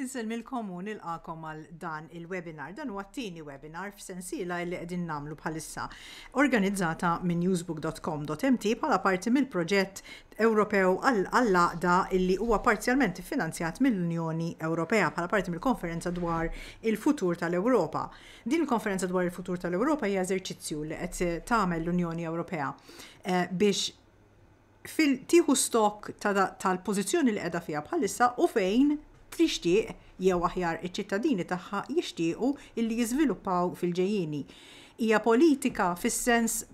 Inselmilkom u nilqakom għal dan il-webinar. Dan huwa t-tieni webinar f'sensiela li qegħdin nagħmlu bħalissa organizzata minn newsbook.com.mt bħala parti mill-proġett Ewropew għall-Għaqda illi huwa parzjalment iffinanzjat mill-Unjoni Ewropea bħala parti mill-Konferenza dwar il-Futur tal-Ewropa. Din il-Konferenza dwar il-Futur tal-Ewropa hija eżerċizzju li qed tagħmel l-Unjoni Ewropea biex tieħu stokk tal-pożizzjoni li qiegħda fiha bħalissa u fejn tixtieq, jew aħjar iċ-ċittadini tagħha jixtiequ, illi jiżviluppaw fil-ġejjieni. Hija politika fis-sens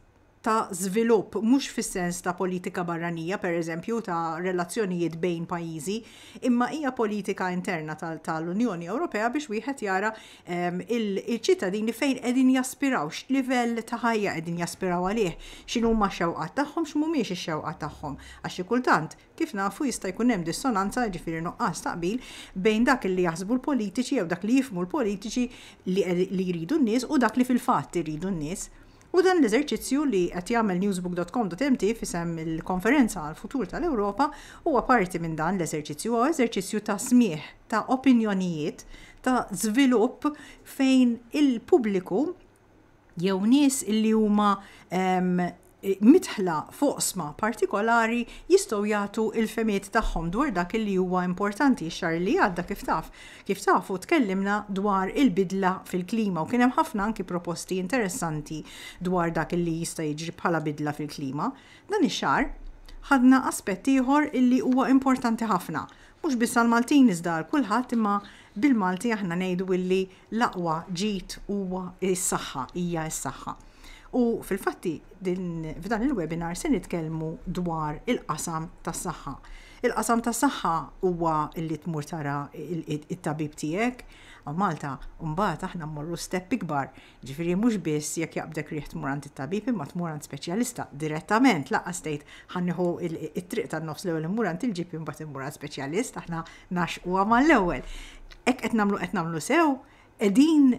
ta' żvilupp, mhux fis-sens ta' politika barranija, pereżempju, ta' relazzjonijiet bejn pajjiżi, imma hija politika interna tal-Unjoni Ewropea biex wieħed jara l-ċittadini fejn qegħdin jaspiraw, x'livell ta' ħajja qegħdin jaspiraw għalih, x'inhuma x-xewqat tagħhom, x'mhumiex ix-xewqat tagħhom. Għax xi kultant, kif nafu, jista' jkun hemm dissonanza, jiġifieri nuqqas ta' qbil, bejn dak li jaħsbu l-politiċi jew dak li jifhmu l-politiċi li jridu n-nies u dak li fil-fatt iridu n-nies. Hu dan l-eżerċizzju li qed jagħmel newsbook.com.mt f'isem il-Konferenza għall-Futur tal-Ewropa huwa parti minn dan l-eżerċizzju. Huwa eżerċizzju ta' smigħ ta' opinjonijiet ta' żvilupp fejn il-pubbliku jew nies li huma midħla f'oqsma partikolari jistgħu jagħtu l-fehmiet tagħhom dwar dak li huwa importanti. X-xahar li għadda kif taf Kif tafu tkellimna dwar il-bidla fil-klima u kien hemm ħafna anki proposti interessanti dwar dak li jista' jiġri bħala bidla fil-klima. Dan ix-xahar ħadna aspett ieħor illi huwa importanti ħafna, mhux biss għall-Maltin iżda għal kulħadd imma bil-Malti aħna ngħidu illi l-aqwa ġid huwa s-saħħa, hija s-saħħa. U fil-fatti f'dan il-webinar se nitkellmu dwar il-qasam tas-saħħa. Il-qasam tas-saħħa huwa li tmur tara t-tabib tiegħek hawn Malta u mbagħad aħna mmorru step ikbar, jiġifieri mhux biss jekk jaqbdek riħ tmur għand it-tabib imma tmur għand speċjalista direttament, lanqas tgħid ħa nieħu t-triq tan-nofs l-ewwel immur għand il-GP mbagħad immur għal speċjalist, aħna nagħxquha mal-ewwel. Hekk qed nagħmlu qed nagħmlu sew qegħdin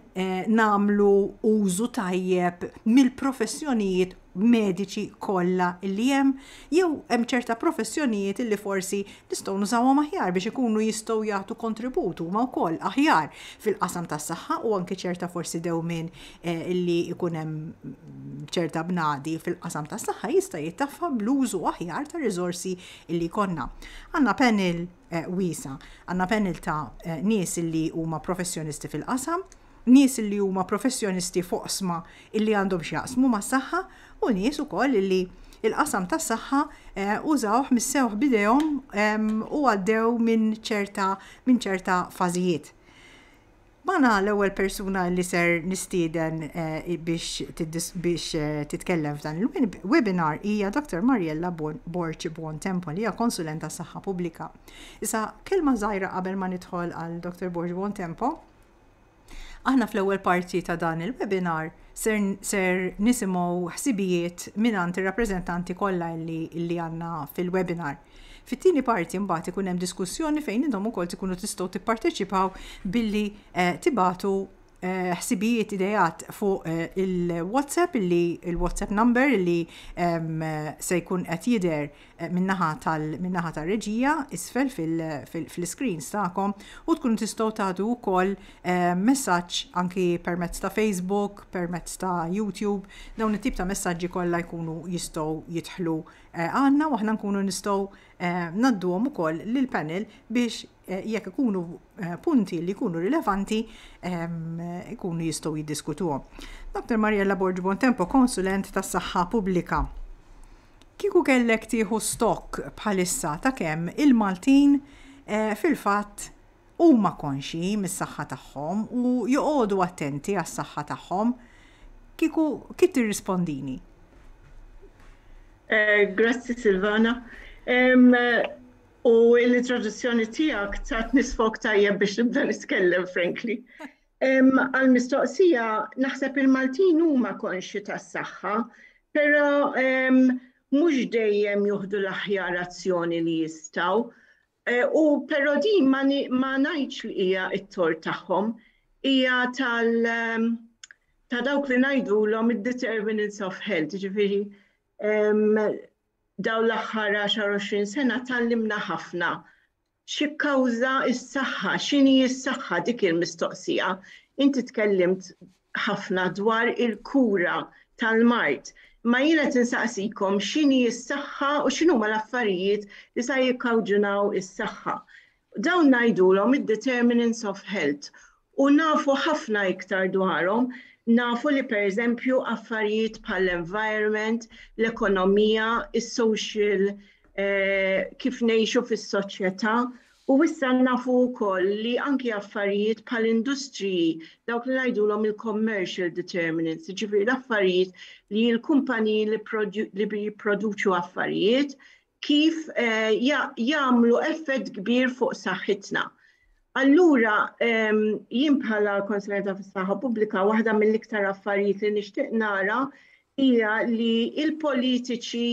nagħmlu użu tajjeb mill-professjonijiet mediċi kollha li hemm jew hemm ċerta professjonijiet li forsi nistgħu nużawhom aħjar biex ikunu jistgħu jagħtu kontribut huma wkoll aħjar fil-qasam tas-saħħa u anke ċerta forsi dewmien eh, li jkun hemm ċerta bnadi fil-qasam tas-saħħa jista' jittaffa bl-użu aħjar ta' riżorsi li jkollna. Għandna panel wiesa'. Għandna panel ta' nies illi huma professjonisti fil-qasam, nies illi huma professjonisti f'oqsma illi għandhom x'jaqsmu mas-saħħa u nies ukoll illi il-qasam tas-saħħa eh, użawh missewh bidejhom u għaddew minn ċerta minn ċerta fażijiet. Magħna l-ewwel persuna li ser nistieden biex titkellem f'dan il-webinar hija Dr. Mariella Borg Buontempo li hija Konsulent għas-Saħħa Pubblika. Issa kelma żgħira qabel ma nidħol għal Dr. Borg Buontempo. Aħna fl-ewwel parti ta' dan il-webinar ser, ser nisimgħu ħsibijiet mingħand ir-rappreżentanti kollha li, li għandna fil-webinar. Fit-tieni parti mbagħad ikun hemm diskussjoni fejn intom ukoll tkunu tistgħu tipparteċipaw billi eh, tibatu eh, ħsibijiet idejat fuq eh, il-WhatsApp illi il-WhatsApp number illi ehm, se jkun qed jidher minnaħa tal-minnaħa tar-reġija isfel fil-screens tagħkom u tkunu tistgħu tagħtu wkoll messaġġ anki permezz ta' Facebook, permezz ta' YouTube, dawn it-tip ta' messaġġi kollha jkunu jistgħu jidħlu għandna u aħna nkunu nistgħu ngħadduhom ukoll lill-panel biex jekk ikunu punti li jkunu rilevanti ikunu jistgħu jiddiskutuhom. Dr. Mariella Borg Bontempo, konsulent tas-Saħħa Pubblika. Kieku kellek tieħu stokk bħalissa ta' kemm il-Maltin fil-fatt Huma konxji mis-saħħa tagħhom u joqogħdu attenti għas-saħħa tagħhom. Kieku kif tirrispondini? Grazzi Silvana. U l-introduzzjoni tiegħek tatni sfok tajjeb biex nibda nitkellem frankly. Għall-mistoqsija naħseb il-Maltin huma konxji tas-saħħa, però mhux dejjem jieħdu l-aħjar azzjoni li jistgħu. U però din ma ngħidx li hija t-tort tagħhom, hija tal ta' dawk li ngħidulhom id-determinants of health, jiġifieri dawn l-aħħar 10-20 sena tgħallimna ħafna x'jikkawża s-saħħa, x'inhi s-saħħa dik hi l-mistoqsija. Inti tkellimt ħafna dwar il-kura tal-mard, imma jien qed insaqsikom x'inhi s-saħħa u x'inhuma l-affarijiet li sa jikkawġunaw is-saħħa. Dawn ngħidulhom id-determinants of health u nafu ħafna iktar dwarhom, nafu li pereżempju affarijiet bħall-environment, l-ekonomija, is-social eh, kif ngħixu fis-soċjetà U issa nafu wkoll li anki affarijiet bħal industriji, dawk li ngħidulhom il-commercial determinants, jiġifieri l-affarijiet li l-kumpaniji li jipproduċu affarijiet kif jagħmlu effett kbir fuq saħħitna. Allura jien bħala Konsulenta fis-Saħħa Pubblika waħda mill-iktar affarijiet li nixtieq nara hija li l-politiċi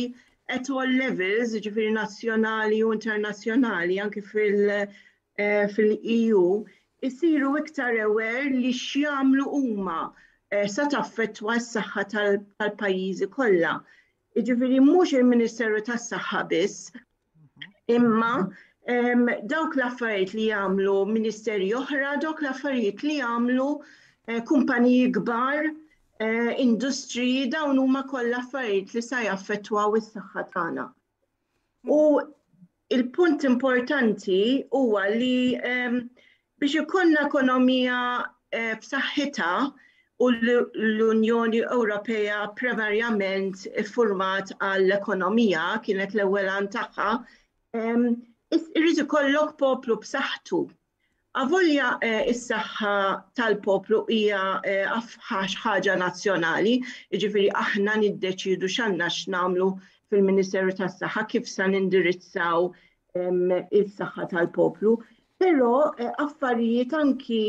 at all levels, jiġifieri nazzjonali u internazzjonali anke fil-EU, isiru iktar aware li x'jagħmlu huma eh, sa taffettwa s-saħħa tal-pajjiżi kollha. Jiġifieri mhux il-Ministeru tas-Saħħa biss Imma dawk l-affarijiet li jagħmlu ministeri oħra, dawk l-affarijiet li jagħmlu eh, kumpaniji kbar, eh, industriji, dawn huma kollha affarijiet li sa jaffettwaw is-saħħa tagħna. U il-punt importanti huwa li Biex ikollna ekonomija b'saħħitha u l-Unjoni Ewropea primarjament iffurmat għall-ekonomija, kienet l-ewwel għan tagħha, irid ikollok poplu b'saħħtu. Avolja s-saħħa tal-poplu hija ħaġa nazzjonali, jiġifieri aħna niddeċiedu x'għandna x'nagħmlu fil-Ministeru tas-Saħħa, kif se nindirizzaw is-saħħa tal-poplu, Però affarijiet anki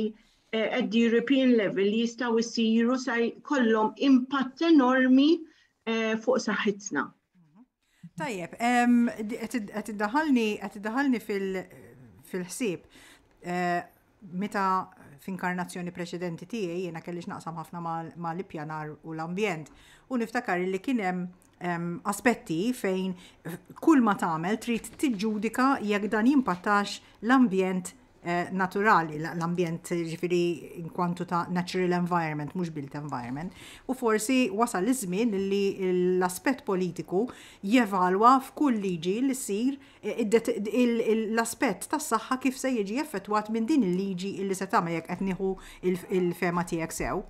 at the European level li jistgħu jsiru sa jkollhom impatt enormi eh, fuq saħħitna. Tajjeb, qed iddaħalni qed iddaħalni fil-ħsieb eh, meta f'inkarnazzjoni preċedenti tiegħi jiena kellix naqsam ħafna mal-ippjanar u l-ambjent u niftakar li kien hemm aspetti fejn kull ma tagħmel trid tiġġudika jekk dan jimpattax l-ambjent eh, naturali, l-ambjent ġifiri inkwantu ta' natural environment, mhux built environment. U forsi wasal iż-żmien li l-aspett politiku jevalwa f'kull liġi li ssir eh, l-aspett tas-saħħa kif se jiġi effettwat minn din il-liġi li se tagħmel jekk qed nieħu il-fema tiegħek sew.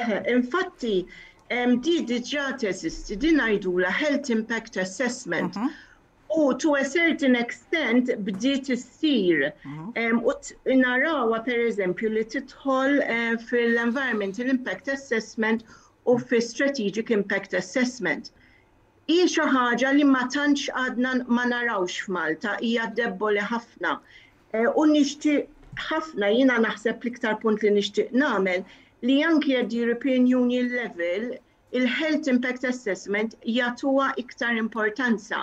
Eħe, infatti, di diġà teżisti, din ngħidulha health impact assessment. Mhm. U to a certain extent bdiet issir. Mhm. U narawha pereżempju li tidħol eh, fil-environmental impact assessment u fi strategic impact assessment. Hi xi ħaġa li ma tantx għadna ma narawx f'Malta, hija debboli ħafna. U nixtieq ħafna, jiena naħseb l-iktar punt li nixtieq nagħmel li anki at the European Union level il-health impact assessment jagħtuha iktar importanza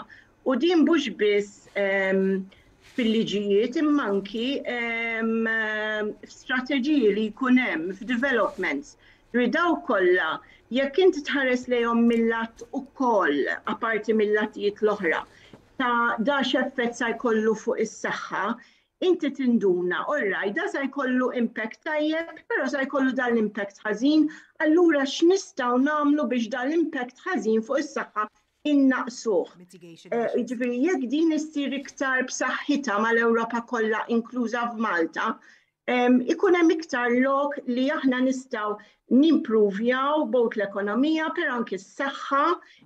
u din mhux biss fil-liġijiet imma anki f'strateġiji li jkun hemm f'developments. Ġifieri dawk kollha jekk inti tħares lejhom mill-lat ukoll apparti mill-latijiet l-oħra ta' dan x'effett sa jkollu fuq is-saħħa, inti tinduna, all right, dan sa jkollu impact tajjeb, però sa jkollu dan l-impact ħażin, allura x'nistgħu nagħmlu biex dan l-impact ħażin fuq is-saħħa innaqqsuh. Jiġifieri jekk din issir iktar b'saħħitha mal-Ewropa kollha inkluża f'Malta, ikun hemm iktar lok li aħna nistgħu nimpruvjaw bot l-ekonomija per anki s-saħħa,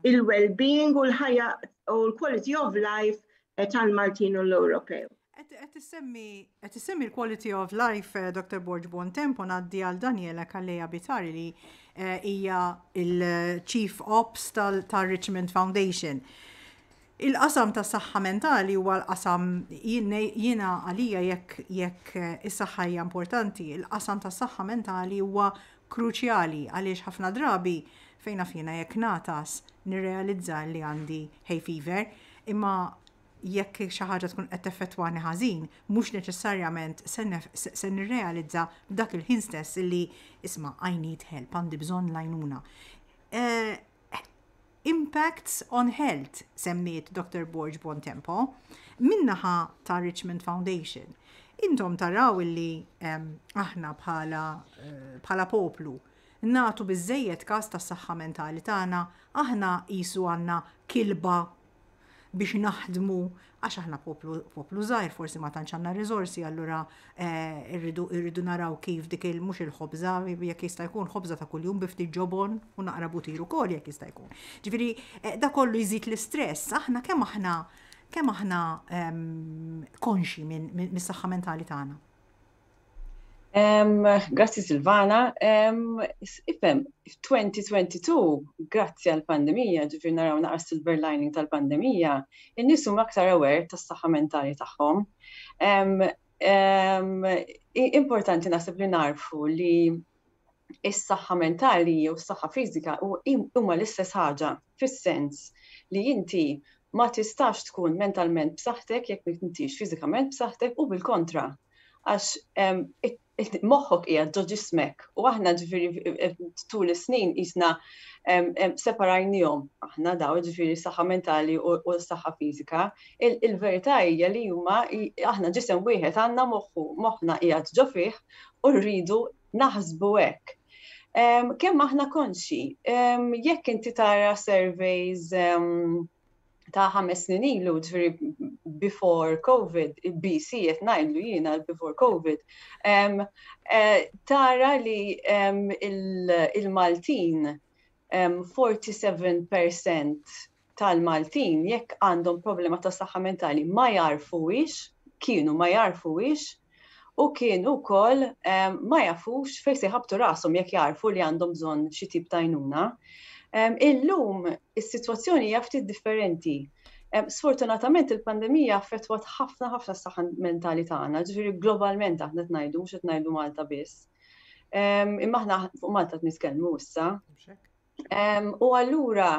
il-well-being u l-ħajja u l-quality of life eh, tal-Maltin u l-Ewropew. Qed issemmi l-quality of life eh, Dr. Borg Bontempo ngħaddi għal Daniela Kalleja Bitari li eh, hija il-Chief Ops tal-Richmond Foundation. Il-qasam tas-saħħa mentali huwa l-qasam, jiena għalija jekk is-saħħa hija importanti, il-qasam tas-saħħa mentali huwa kruċjali għaliex ħafna drabi, fejn naf jiena jekk ngħatas nirrealizza li għandi hay fever, imma jekk xi ħaġa tkun qed teffettwani ħażin, mhux neċessarjament se nirrealizza f'dak il-ħin stess li, isma', I need help, għandi bżonn l-għajnuna. impacts on health semmiet Dottor Borg Bontempo min-naħa ta' Richmond Foundation. Intom taraw illi aħna bħala bħala poplu nagħtu biżejjed każ tas-saħħa mentali tagħna, aħna qisu għandna kilba biex naħdmu għax aħna poplu poplu żgħir forsi ma tantx għandna riżorsi allura eh, irridu irridu naraw kif dik il mhux il-ħobża jekk jista' jkun ħobża ta' kuljum bi ftit ġobon u naqra butir ukoll jekk jista' jkun. Ġifieri eh, da kollu jżid l-istress, aħna kemm aħna kemm aħna ehm, konxi minn mis-saħħa mentali tagħna. Grazzi Silvana. Ifem, 2022, grazzi għal-pandemija, ġifir naraw naqra silver lining tal-pandemija, in-nies huma aktar aware tas-saħħa mentali tagħhom. Importanti naħseb li narfu li is-saħħa mentali jew is-saħħa fiżika huma l-istess ħaġa fis-sens li inti ma tistax tkun mentalment b'saħħtek jekk m'intix fiżikament b'saħħtek u bil-kontra għax moħħok qiegħed ġo ġismek u aħna ġifieri eh, tul is-snin qisna separajnihom aħna daw ġifieri saħħa mentali u s-saħħa fiżika. Il-verità hija li huma aħna ġisem wieħed għandna moħħu moħħna qiegħed ġo fih u rridu naħsbu hekk. Kemm aħna konxi, jekk inti tara surveys ta' ħames snin ilu, ġviri before COVID, BC qed ngħidlu jiena before COVID, eh, tara li il-Maltin 47% tal-Maltin jekk għandhom problema ta' saħħa mentali ma jagħrfuhiex, kienu ma jagħrfuhiex u kienu wkoll ma jafux fejn se jħabbtu rashom jekk jagħrfu li għandhom bżonn xi tip ta' għajnuna. Illum is-sitwazzjoni hija ftit differenti. Sfortunatament il-pandemija affettwat ħafna ħafna s-saħħa mentali tagħna, ġifieri globalment aħna qed ngħidu mhux qed ngħidu Malta biss. Imma aħna fuq Malta qed nitkellmu issa. U allura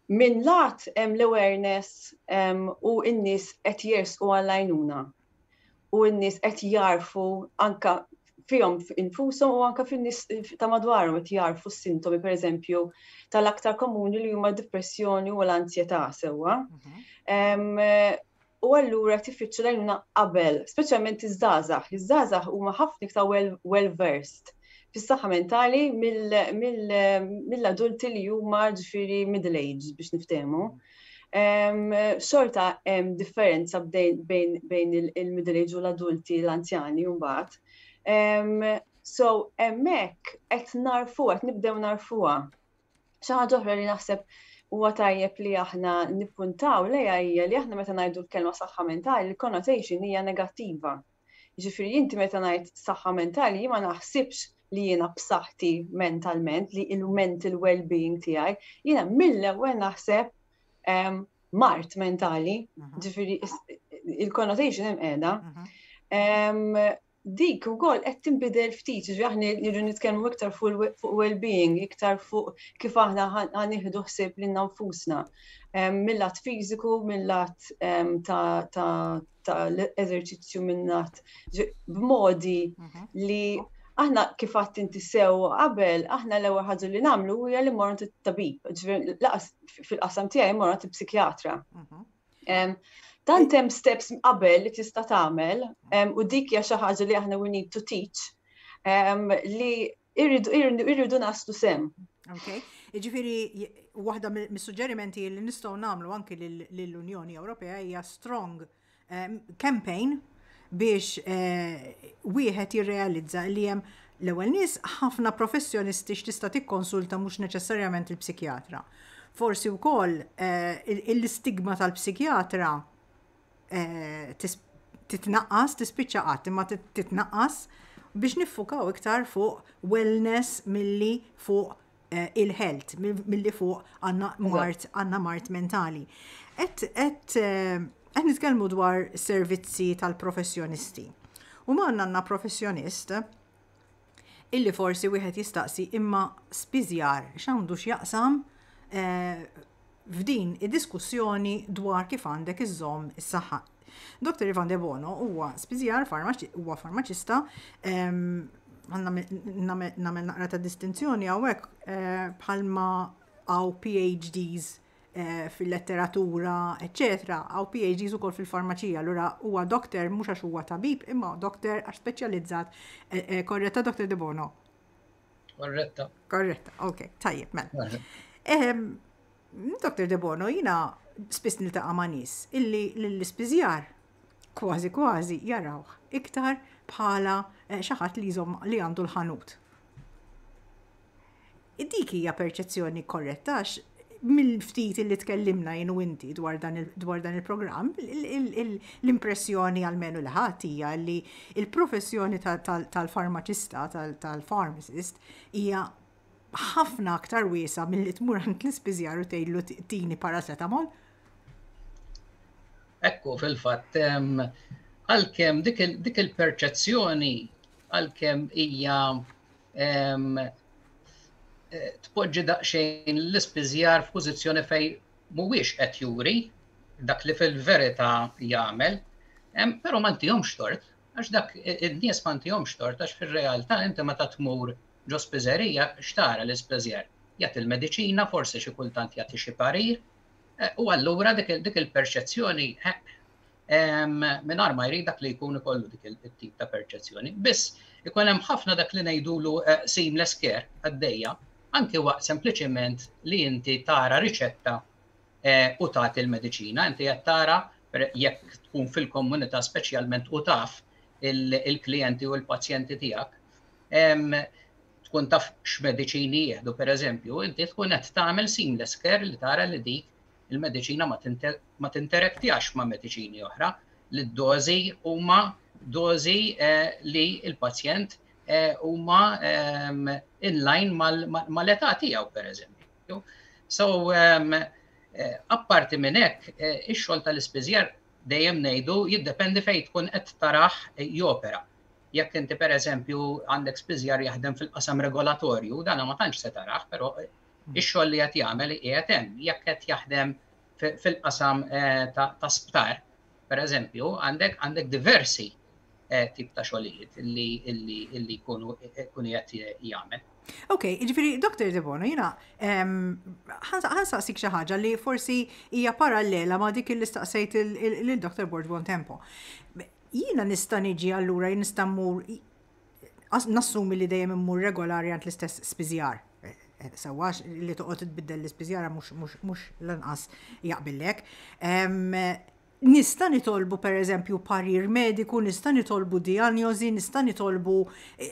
minn lat hemm l-awareness u n-nies qed jersqu għall-għajnuna. U n-nies qed jarfu anka fihom infushom u anka fin-nies ta' madwarhom qed jarfu s-sintomi pereżempju tal-aktar komuni li huma d-dipressjoni u l-anzjetà sewwa. Mhm. u allura tifittxu l-għajnuna qabel, speċjalment iż-żgħażagħ. Iż-żgħażagħ huma ħafna iktar well versed fis-saħħa mentali mill-adulti li huma ġifieri middle age biex niftehmu. Xorta hemm differenza bejn il-middle age u l-adulti l-anzjani mbagħad. So hemmhekk qed narfu qed nibdew narfuha. Xi ħaġa oħra li naħseb huwa tajjeb li aħna nippuntaw lejha hija li aħna meta ngħidu l-kelma saħħa mentali l-connotation hija negattiva. Ġifieri inti meta ngħid saħħa mentali jien ma naħsibx li jiena b'saħħti mentalment li il-mental well-being tiegħi, jiena mill-ewwel naħseb ehm, mart mentali, mhm. ġifieri il-connotation hemm qiegħda. Mhm. Ehm, dik ukoll qed tinbidel ftit, jiġri aħna nirridu nitkellmu iktar fuq well-being, iktar fuq kif aħna ħan nieħdu ħsieb lil nfusna mill-lat fiżiku, mill-lat ta' l-eżerċizzju mill-lat b'modi mhm. li aħna kif għadt inti sew qabel, aħna l-ewwel ħaġa li nagħmlu hija li morru tabib, laqas fil-qasam tiegħi morru psikjatra. Mhm. Dan tem steps qabel li tista' tagħmel u dik hija xi ħaġa li aħna we need to teach li irridu naslu sem. Okay. Iġifiri, waħda mis-suġġerimenti li nistgħu nagħmlu anki lill-Unjoni Ewropea hija strong campaign biex wieħed jirrealizza li hemm l-ewwel nies ħafna professjonisti x'tista' tikkonsulta mhux neċessarjament il-psikjatra. Forsi wkoll l-istigma tal-psikjatra titnaqqas, tispiċċa qatt imma titnaqqas biex niffukaw iktar fuq wellness milli fuq eh, il-health, mill-li fuq għanna mart, għanna mart mentali. Et, et, eh, et nitkellmu dwar servizzi tal-professjonisti. U ma għanna professjonist illi forsi wieħed jistaqsi imma spiżjar x'għandu x'jaqsam eh, f'din id-diskussjoni dwar kif għandek iżżomm is-saħħa. Dottor Ivan Debono huwa spiżjar, huwa farmaċista, nagħmel naqra ta' distinzjoni hawnhekk eh, bħalma għaw PhDs Eh, fil-letteratura, eccetera, għaw PhDs ukoll fil-farmaċija, allura huwa doktor mhux għax huwa tabib, imma doktor għax speċjalizzat eh, eh, korretta doktor De Bono. Korretta. Korretta, ok, tajjeb, mela. Dr. Debono, jina spiss niltaqa' ma' nies illi l-ispiżjar kważi kważi jarawh iktar bħala eh, xi ħadd li jżomm li għandu l-ħanut. Dik hija perċezzjoni korretta għax mill-ftit li tkellimna jien u inti dwar dan il-programm, l-impressjoni għalmenu li ħadd hija li l-professjoni tal-farmaċista, tal-pharmacist, hija ħafna aktar wiesa' milli tmur għand l-ispiżjar u tgħidlu tini paracetamol. Ekku, fil-fatt, għalkemm dik il-perċezzjoni għalkemm hija tpoġġi daqsxejn l-ispiżjar f'pożizzjoni fejn mhuwiex qed juri dak li fil-verità jagħmel, però ma ntihomx tort, għax dak id-nies ma ntihomx tort, għax fir-realtà inti meta tmur ġo spiżerija x'tara l-ispiżjar? Jagħti l-mediċina, forsi xi kultant jagħti xi parir, u allura dik il-perċezzjoni mingħajr ma jrid dak li jkun ikollu dik it-tip ta' perċezzjoni. Biss ikun hemm ħafna dak li ngħidulu eh, seamless care għaddejja, anki waqt sempliċement li inti tara riċetta eh, u tagħti il-mediċina, inti qed tara jekk tkun fil-komunità speċjalment u taf il-klijenti u l-pazjenti tiegħek tkun taf x'mediċini jieħdu pereżempju, inti tkun qed tagħmel seamless care li tara li dik Il-mediċina ma tinterektjax ma' mediċini oħra, li d-dożi huma dożi li l-pazjent huma in line mal-età tiegħu pereżempju. So, apparti minn hekk, ix-xogħol tal-ispiżjar dejjem ngħidu jiddependi fejn tkun qed tarah jopera. Jekk inti pereżempju għandek spiżjar jaħdem fil-qasam regolatorju, dan ma tantx se tarah, però Ix-xogħol li qed jagħmel iqiegħed hemm. Jekk qed jaħdem fil-qasam ta' sptar, pereżempju, għandek għandek diversi tip ta' xogħlijiet li jkunu jkun qed jagħmel. Ok, ġifiri, Dr. Debono, jina, ħansaqsik xi ħaġa li forsi hija parallela ma' dik li staqsejt il-Dr. Borg Bontempo. Jina nista' niġi allura nista' mmur nassumi li dejjem immur regolari għand l-istess spiżjar. Sewwa li toqgħod tbiddel l-ispiżjara mhux lanqas jaqbillek. Nista' nitolbu pereżempju parir mediku, nista' nitolbu dijanjosi, nista' nitolbu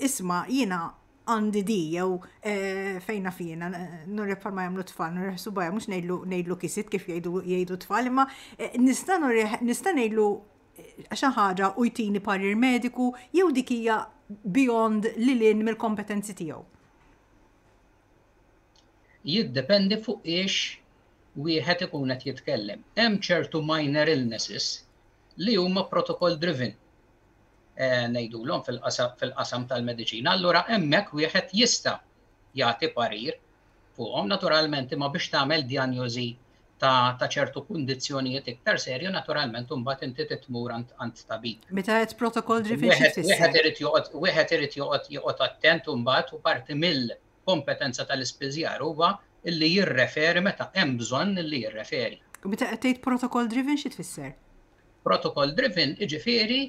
isma' jiena għandi di jew eh, fejna fina, nurrek bħalma jagħmlu tfal, nurrek subajja, mhux ngħidlu kisit kif jgħidu tfal, imma eh, nista' ngħidlu xi ħaġa u jtini parir mediku jew dik hija beyond li lin mill-kompetenzi tiegħu? Jiddependi fuq ix wieħed ikun qed jitkellem. Hemm ċertu minor illnesses li huma protocol driven eh, ngħidulhom fil-qasam tal-mediċina. Allura hemmhekk wieħed jista' jagħti parir fuqhom naturalment imma biex tagħmel djanjożi ta' ċertu kundizzjonijiet iktar serju naturalment imbagħad inti titmur għand tabib. Meta qed protokoll ġifieri xi tfisser? Wieħed irid joqgħod wieħed irid joqgħod joqgħod attent imbagħad u parti mill-kompetenza tal-ispiżjar huwa illi jirreferi meta hemm bżonn illi jirreferi. U meta qed tgħid protokoll driven xi tfisser? Protokoll driven iġifieri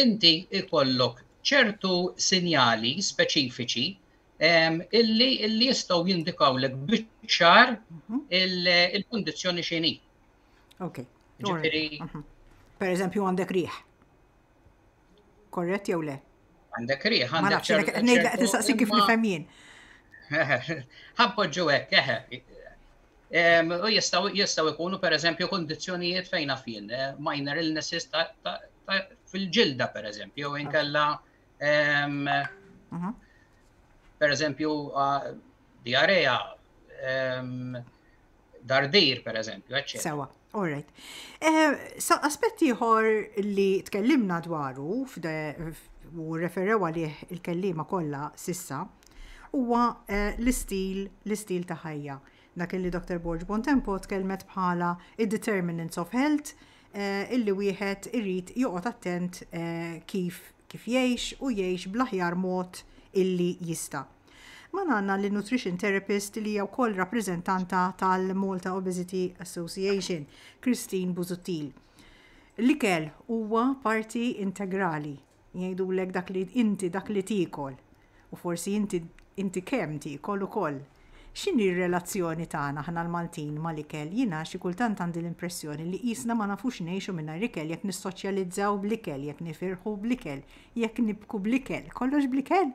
inti ikollok ċertu sinjali speċifiċi illi illi jistgħu jindikawlek biċ-ċar mhm. il-kundizzjoni xini. Ok. Ġifieri. Mhm. Per eżempju għandek riħ. Korrett jew le? Għandek riħ, għandek. Ma nafx, ngħidlek qed nistaqsi kif nifhem jien. Ħabboġġu hekk, eħe. U jistaw jistaw ikunu per eżempju kondizjonijiet fejna fin, eh, minor illnesses fil-ġilda per eżempju, jew inkella Mhm. Per eżempju, diarrea, dardir, per eżempju, eccetera. Sewa, all right. Eh, sa aspetti ieħor li tkellimna dwaru u referew għalih il-kellima kollha sissa huwa eh, l-istil, l-istil ta' ħajja. Dak li Dr. Borg Bontempo tkellmet bħala id-determinants of health, illi wieħed irid joqgħod attent kif kif jgħix u jgħix bl-aħjar mod illi jista'. Magħna għandna lin-nutrition therapist li hija wkoll rappreżentanta tal-Malta Obesity Association, Christine Busuttil. L-ikel huwa parti integrali Jgħidulek dak li inti dak li tiekol. U forsi inti inti kemm tiekol ukoll. X'inhi r-relazzjoni tagħna aħna l-Maltin mal-ikel? Jiena xi kultant għandi l-impressjoni li qisna ma nafux ngħixu mingħajr ikel jekk nissoċjalizzaw bl-ikel, jekk nifirħu bl-ikel, jekk nibku bl-ikel, kollox bl-ikel?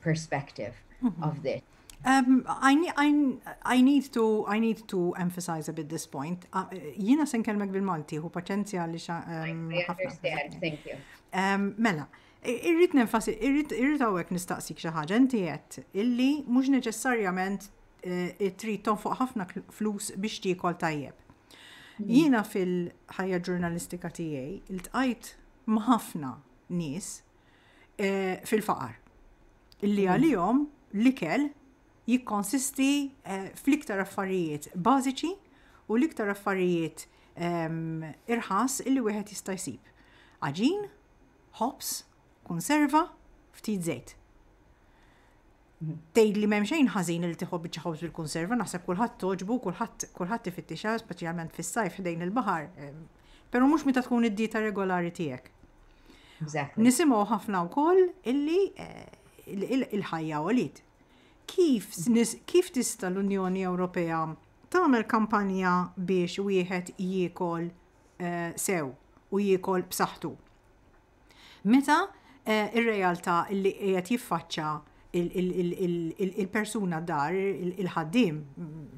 perspective mm-hmm. of this. Um, I, need, I, I, need to, I need to emphasize a bit this point. Uh, jina sen kelmek bil-Malti, hu paċenzja li xa. Um, I understand, thank you. Um, mela, irrit nenfasi, irrit, irrit għawek nistaqsik xaħġa, inti jett, illi mux neċessarjament eh, trid tonfoq ħafna flus biex tiekol tajjeb. Mm. Jina fil-ħajja ġurnalistika tiegħi, il-tqajt ma' ħafna nies eh, fil-faqar. Illi mm. għalihom l-ikel jikkonsisti eh, fl-iktar affarijiet bażiċi u l-iktar affarijiet ehm, irħas illi wieħed jista' jsib. Aġin, ħobs, konserva, ftit żejt. Tgħid li m'hemm xejn ħażin li tieħu biċċa ħobż bil-kunserva, naħseb kulħadd togħġbu u kulħadd kulħadd ifittixha speċjalment fis-sajf ħdejn il-baħar, però mhux meta tkun id-dieta regolari tiegħek. Exactly. Nisimgħu ħafna wkoll illi eh, il-ħajja għolit. Kif, kif tista l-Unjoni Ewropea tagħmel kampanja biex wieħed jiekol eh, sew u jiekol b'saħħtu? Meta r-realtà li qiegħed jiffaċċa il-persuna dar, il-ħaddiem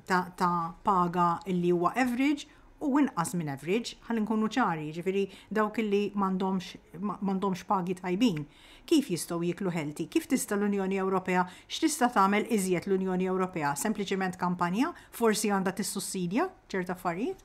ta' paga li huwa average u inqas minn average, ħalli nkunu ċari, jiġifieri dawk li m'għandhomx pagi tajbin, kif jistgħu jieklu healthy? Kif tista' l-Unjoni Ewropea, x'tista' tagħmel iżjed l-Unjoni Ewropea? Sempliċement kampanja? Forsi għandha tissussidja ċerti affarijiet?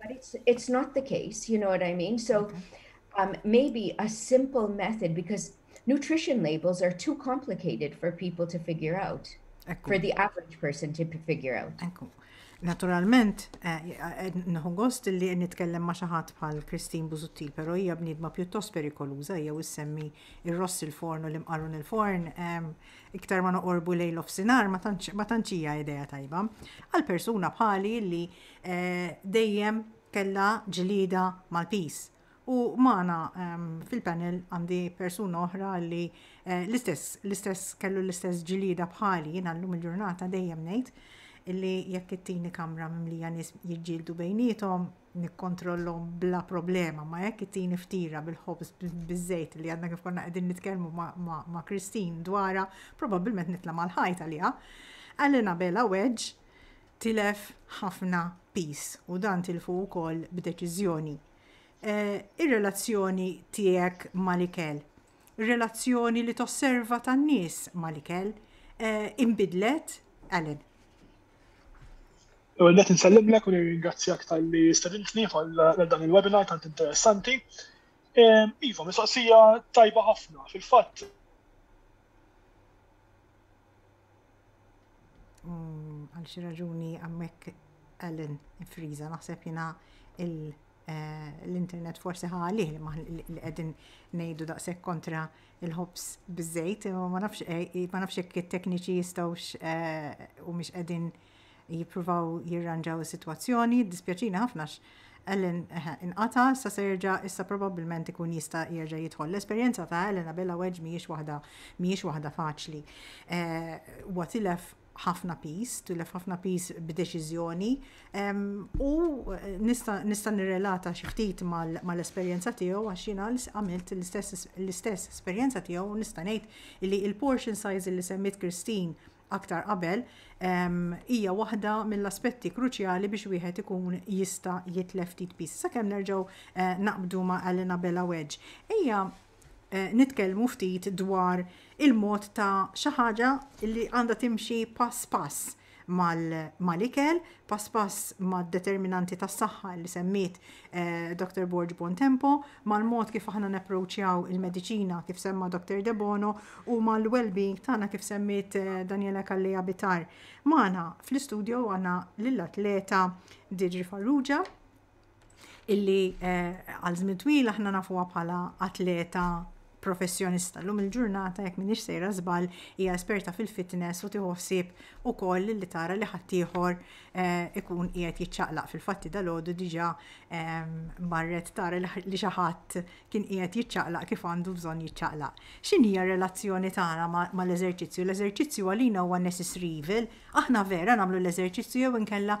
But it's, it's not the case, you know what I mean? So okay. um, maybe a simple method, because nutrition labels are too complicated for people to figure out, Ekku. for the average person to figure out. Ekku. Naturalment, eh, eh, nħu gost li nitkellem ma xaħat bħal Kristin Buzuttil, pero hija bnidma pjuttost perikoluza, hija u semmi il-ross il-forn u l-imqarun il-forn, ehm, iktar ma noqorbu lejl of sinar, ma tanċija ideja tajba. Għal-persuna bħali li Dejjem kellha ġlieda mal-piż. U magħna fil-panel għandi persuna oħra li l-istess, l-istess kellu l-istess ġlieda bħali, jiena llum il-ġurnata dejjem ngħid illi jekk ittini kamra mimlija nies jiġġieldu bejniethom, nikkontrollhom bla problema, ma jekk ittini ftira bil-ħobż biż-żejt li għandna kif konna qegħdin nitkellmu ma' Christine dwarha, probabbilment nitla' mal-ħajt għaliha. Qalilna bela weġġ tilef ħafna piż u dan tilfu wkoll b'deċiżjoni. Ir-relazzjoni tiegħek mal-ikel, ir-relazzjoni li tosserva tan-nies mal-ikel inbidlet, Alan? L-ewwel nett insellimlek u nirringrazzjak talli stedintni għal dan il-webinar tant interessanti. Iva, mistoqsija tajba ħafna. Fil-fatt, Mm, għal xi raġuni għammek Ellen friza naħseb jina eh, l-internet forsi ħalih li qegħdin ngħidu daqshekk kontra il-ħobs biżejt, ma nafx eh, ma nafx jekk it-tekniċi jistgħux eh, u mhix qegħdin jippruvaw jirranġaw is-sitwazzjoni. Jiddispjaċini ħafna għax Ellen inqata', issa se jerġa' issa probabbilment ikun jista' jerġa' jidħol. L-esperjenza ta' Ellen Abela Wedge mhijiex waħda mhijiex waħda faċli. Huwa tilef ħafna pis, tilef ħafna pis b'deċiżjoni u nista' nirrelata xi ftit mal-esperjenza tiegħu għax jiena għamilt l-istess esperjenza tiegħu u nista' ngħid li l-portion size li semmiet Christine aktar qabel, hija waħda mill-aspetti kruċjali biex wieħed ikun jista' jitlef ftit piż. Sakemm nerġgħu eh, naqbdu ma' Alina Bella Wedge. Ejja eh, nitkellmu ftit dwar il-mod ta' xi ħaġa li għandha timxi pass pass mal-ikel, pass pass mad-determinanti tas-saħħa li semmiet Dr. Borg Bontempo, mal-mod kif aħna napproċċjaw il-mediċina kif semma Dr. Debono u mal-well-being tagħna kif semmiet Daniela Kalleja Bitar. Magħna fl-istudio għandna lill-atleta Didri Farrugia, illi għal żmien twil aħna nafuha bħala atleta professjonista. Lum il-ġurnata jekk minix sejra żball hija esperta fil-fitness u tieħu ħsieb ukoll li tara li ħaddieħor eh, ikun qiegħed jiċċaqlaq fil-fatti dalodu diġà ehm, marret tara li xi ħadd kien qiegħed jiċċaqlaq kif għandu bżonn jiċċaqlaq. X'inhi r-relazzjoni tagħna mal-eżerċizzju? L-eżerċizzju għalina huwa necessary evil, aħna vera nagħmlu l-eżerċizzju jew inkella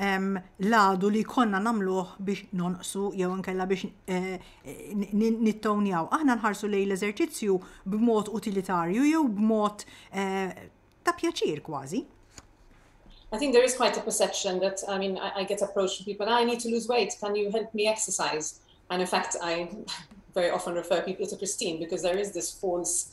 l-għadu li konna namluħ biex nonqsu jew nkella biex eh, nittownjaw. Aħna nħarsu lej l-eżerċizzju b'mod utilitarju jew b'mod eh, ta' pjaċir kważi. I think there is quite a perception that, I mean, I, I get approached from people, I need to lose weight, can you help me exercise? And in fact, I very often refer people to Christine because there is this false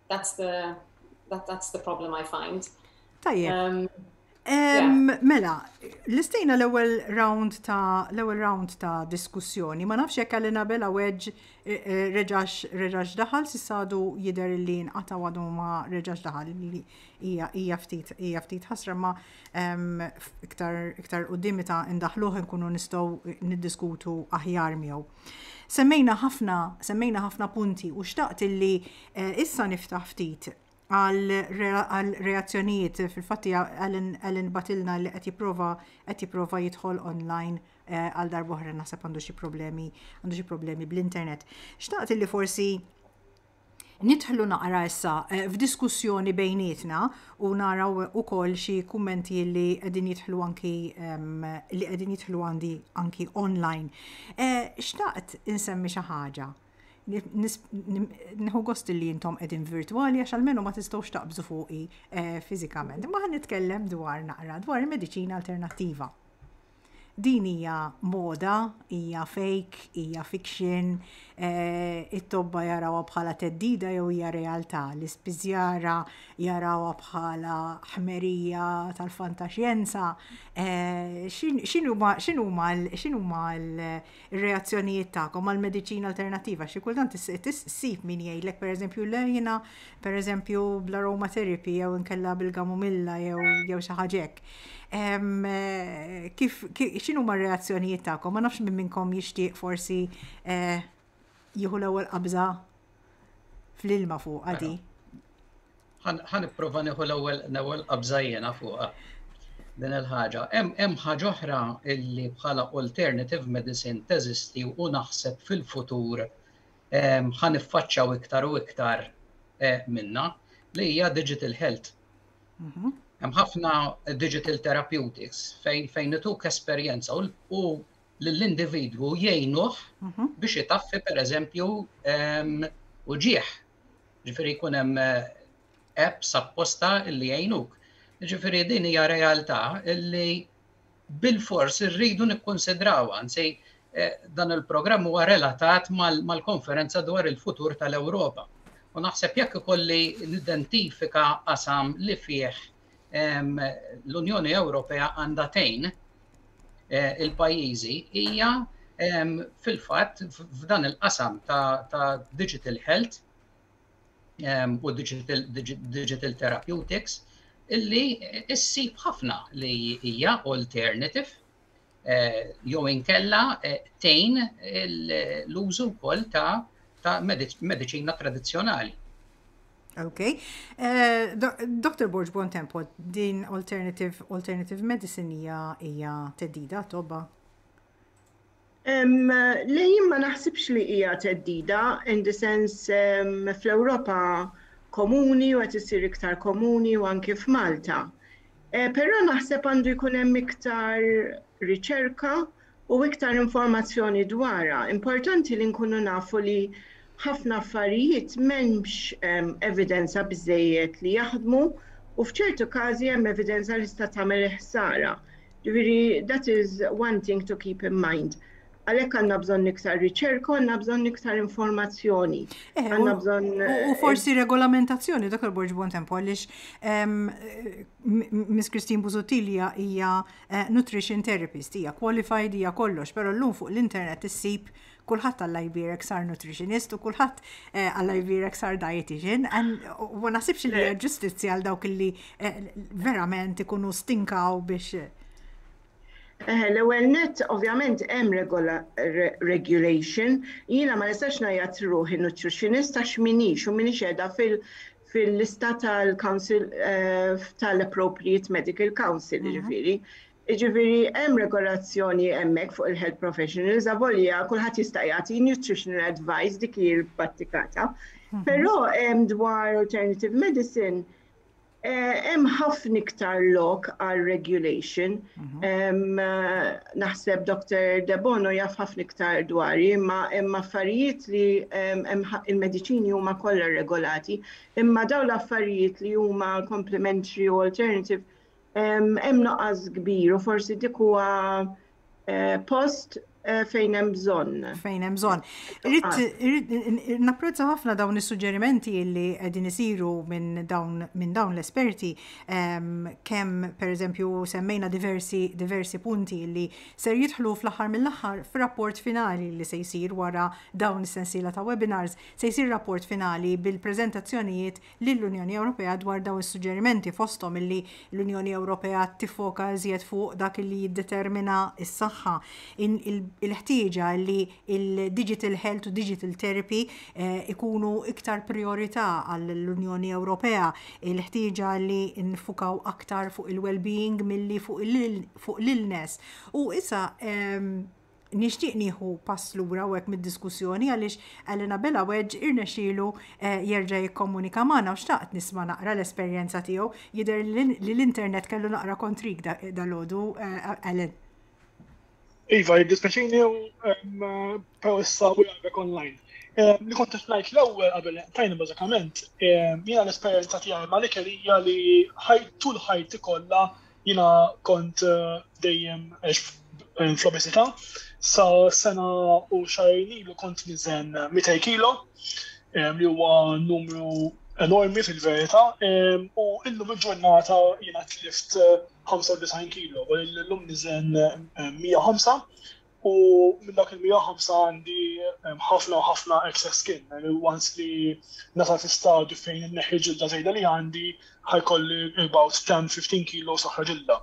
that's the that, that's the problem I find. Tajjeb. Um, um, Mela, l-istejna l-ewwel round ta' l-ewwel round ta' diskussjoni, ma nafx jekk għalina bela weġ eh, eh, reġax reġax daħal sissadu jidher li nqata' għadu ma reġax daħal li hija ftit hija ftit ħasra ma um, iktar iktar quddiem ta' indaħluh nkunu nistgħu niddiskutu aħjar miegħu. Semmejna ħafna, semmejna ħafna punti u xtaqt illi eh, issa niftaħ ftit għal reazzjonijiet fil-fatti għalin batilna li qed jipprova qed jipprova jidħol online eh, għal darbohra naħseb għandu xi problemi għandu xi problemi bl-internet. Xtaqt illi forsi Nidħlu naqra issa f'diskussjoni bejnietna u nara wkoll xi kummenti li qegħdin jidħlu anki li qegħdin jidħlu għandi anki online. Xtaqt insemmi xi ħaġa. Nħu gost li jintom edin virtuali għax għalmenu ma tistawx taqbżu fuqi fizikament. Ma ħan nitkellem dwar naqra dwar il-medicina alternativa. Din hija moda, hija fake, hija fiction, it-tobba jarawha bħala theddida jew hija realtà, l-ispiżjara jarawha bħala ħmerija tal-fantaxjenza, x'inhuma x'inhuma l-x'inhuma l ir-reazzjonijiet tagħkom għall-mediċina alternattiva għax xi kultant issib min jgħidlek pereżempju le jiena pereżempju bl-aromatherapy jew inkella bil-gamomilla jew xi ħaġa hekk. Eh, kif x'inhuma r-reazzjonijiet tagħkom? Ma nafx minn minnkom jixtieq forsi eh, jieħu l-ewwel qabża fl-ilma fuqha di. Ħan ipprova nieħu l-ewwel l-ewwel qabżajjena fuqha din il-ħaġa. Hemm ħaġa oħra illi bħala alternative medicine teżisti u naħseb fil-futur ħan iffaċċaw iktar u iktar e, minna li hija digital health. Mhm. Hemm ħafna digital therapeutics fejn fejn ituk esperjenza u lill-individwu jgħinuh biex itaffi pereżempju uġigħ. Ġifieri jkun hemm apps apposta li jgħinuk. Ġifieri din hija realtà li bil-fors irridu nikkunsidraw, anzi dan il-programm huwa relatat mal-konferenza dwar il-futur tal-Ewropa. U naħseb jekk ikolli nidentifika qasam li fih l-Unjoni Ewropea għandha tgħin eh, il-pajjiżi hija fil-fatt f'dan il-qasam ta' digital health u digital therapeutics illi issib ħafna li hija alternative jew inkella tejn l-użu wkoll ta' ta' mediċina tradizzjonali. Ok. Eh, Dr. Borg Bon Tempo, din alternative, alternative medicine hija hija teddida tobba? Le jien ma naħsibx li hija teddida, in the sense fl-Ewropa komuni u qed isir iktar komuni u anke f'Malta. Però naħseb għandu jkun hemm iktar riċerka u iktar informazzjoni dwarha. Importanti li nkunu nafu li ħafna affarijiet m'hemmx evidenza biżżejjed li jaħdmu u f'ċertu każi hemm evidenza li tista' tagħmel il-ħsara. Ġifieri that is one thing to keep in mind. Għalhekk għandna bżonn iktar riċerka, għandna bżonn iktar informazzjoni. Eh, għandna bżonn. U eh, forsi regolamentazzjoni, Dr. Borġ Bontempo, għaliex ehm, Miss Christine Buzutilja hija eh, nutrition therapist, hija qualified, hija kollox, però llum fuq l-internet issib kulħadd għalla jbirek sar nutritionist u kulħadd għalla jbirek sar dietitian. U nasibx li ġustizzja għal dawk li verament ikunu stinkaw biex Eħe, l-ewwel nett ovvjament hemm regulation, jiena ma nistax ngħajjat ruħi nutritionist għax minix u minix qiegħda fil- fil-lista tal-Council eh, tal-Appropriate Medical Council, mhm. ġifiri. Ġifiri, hemm regolazzjoni hemmhekk fuq il-health professionals, avolja kulħadd jista' jagħti nutritional advice dik hi l-battikata. Mhm. Però hemm dwar alternative medicine, Hemm ħafna iktar lok għal regulation. Naħseb Dr. Debono jaf ħafna iktar dwari, imma hemm affarijiet li il-mediċini huma kollha regolati, imma dawn l-affarijiet li huma complementary u alternative hemm nuqqas kbir u forsi dik huwa Eh, post eh, fejn hemm bżonn. Fejn hemm bżonn. Ah. Napprezza ħafna dawn is-suġġerimenti li qegħdin isiru minn dawn minn dawn l-esperti ehm, kemm pereżempju semmejna diversi diversi punti li ser jidħlu fl-aħħar mill-aħħar f'rapport finali li se jsir wara dawn is-sensiela ta' webinars se jsir rapport finali bil-preżentazzjonijiet lill-Unjoni Ewropea dwar dawn is-suġġerimenti, fosthom illi l-Unjoni Ewropea tiffoka iżjed fuq dak li jiddetermina s-saħħa, il-ħtieġa li l-digital health u digital therapy jkunu iktar prijorità għall-Unjoni Ewropea, il-ħtieġa li niffukaw aktar fuq il-wellbeing milli fuq l-illness. U issa, Nixtieq nieħu pass lura hawnhekk mid-diskussjoni għaliex Alan Abela Wedge irnexxielu jerġa' jikkomunika magħna u xtaqt nisma' naqra l-esperjenza tiegħu. Jidher li l-internet kellu naqra kontrik dalgħodu, Alan. Iva, jiddispjaċini u però issa u jgħidlek online. Li kont qed ngħid l-ewwel qabel tajni bażikament, jiena l-esperjenza tiegħi mal-ikel hija li ħajt tul ħajti kollha Jiena kont dejjem fl-obeżità sa sena u xahrin ilu kont niżen 200 kilo li huwa numru enormi fil-verità u illum il-ġurnata jiena tlift 95 kilo u llum niżen 105 U minn dak il-100 ħamsa għandi ħafna u ħafna excess skin, għani once li nasa fi stadju fejn inneħħi ġilda żejda li għandi ħajkolli about 10-15 kilo soħra ġilda.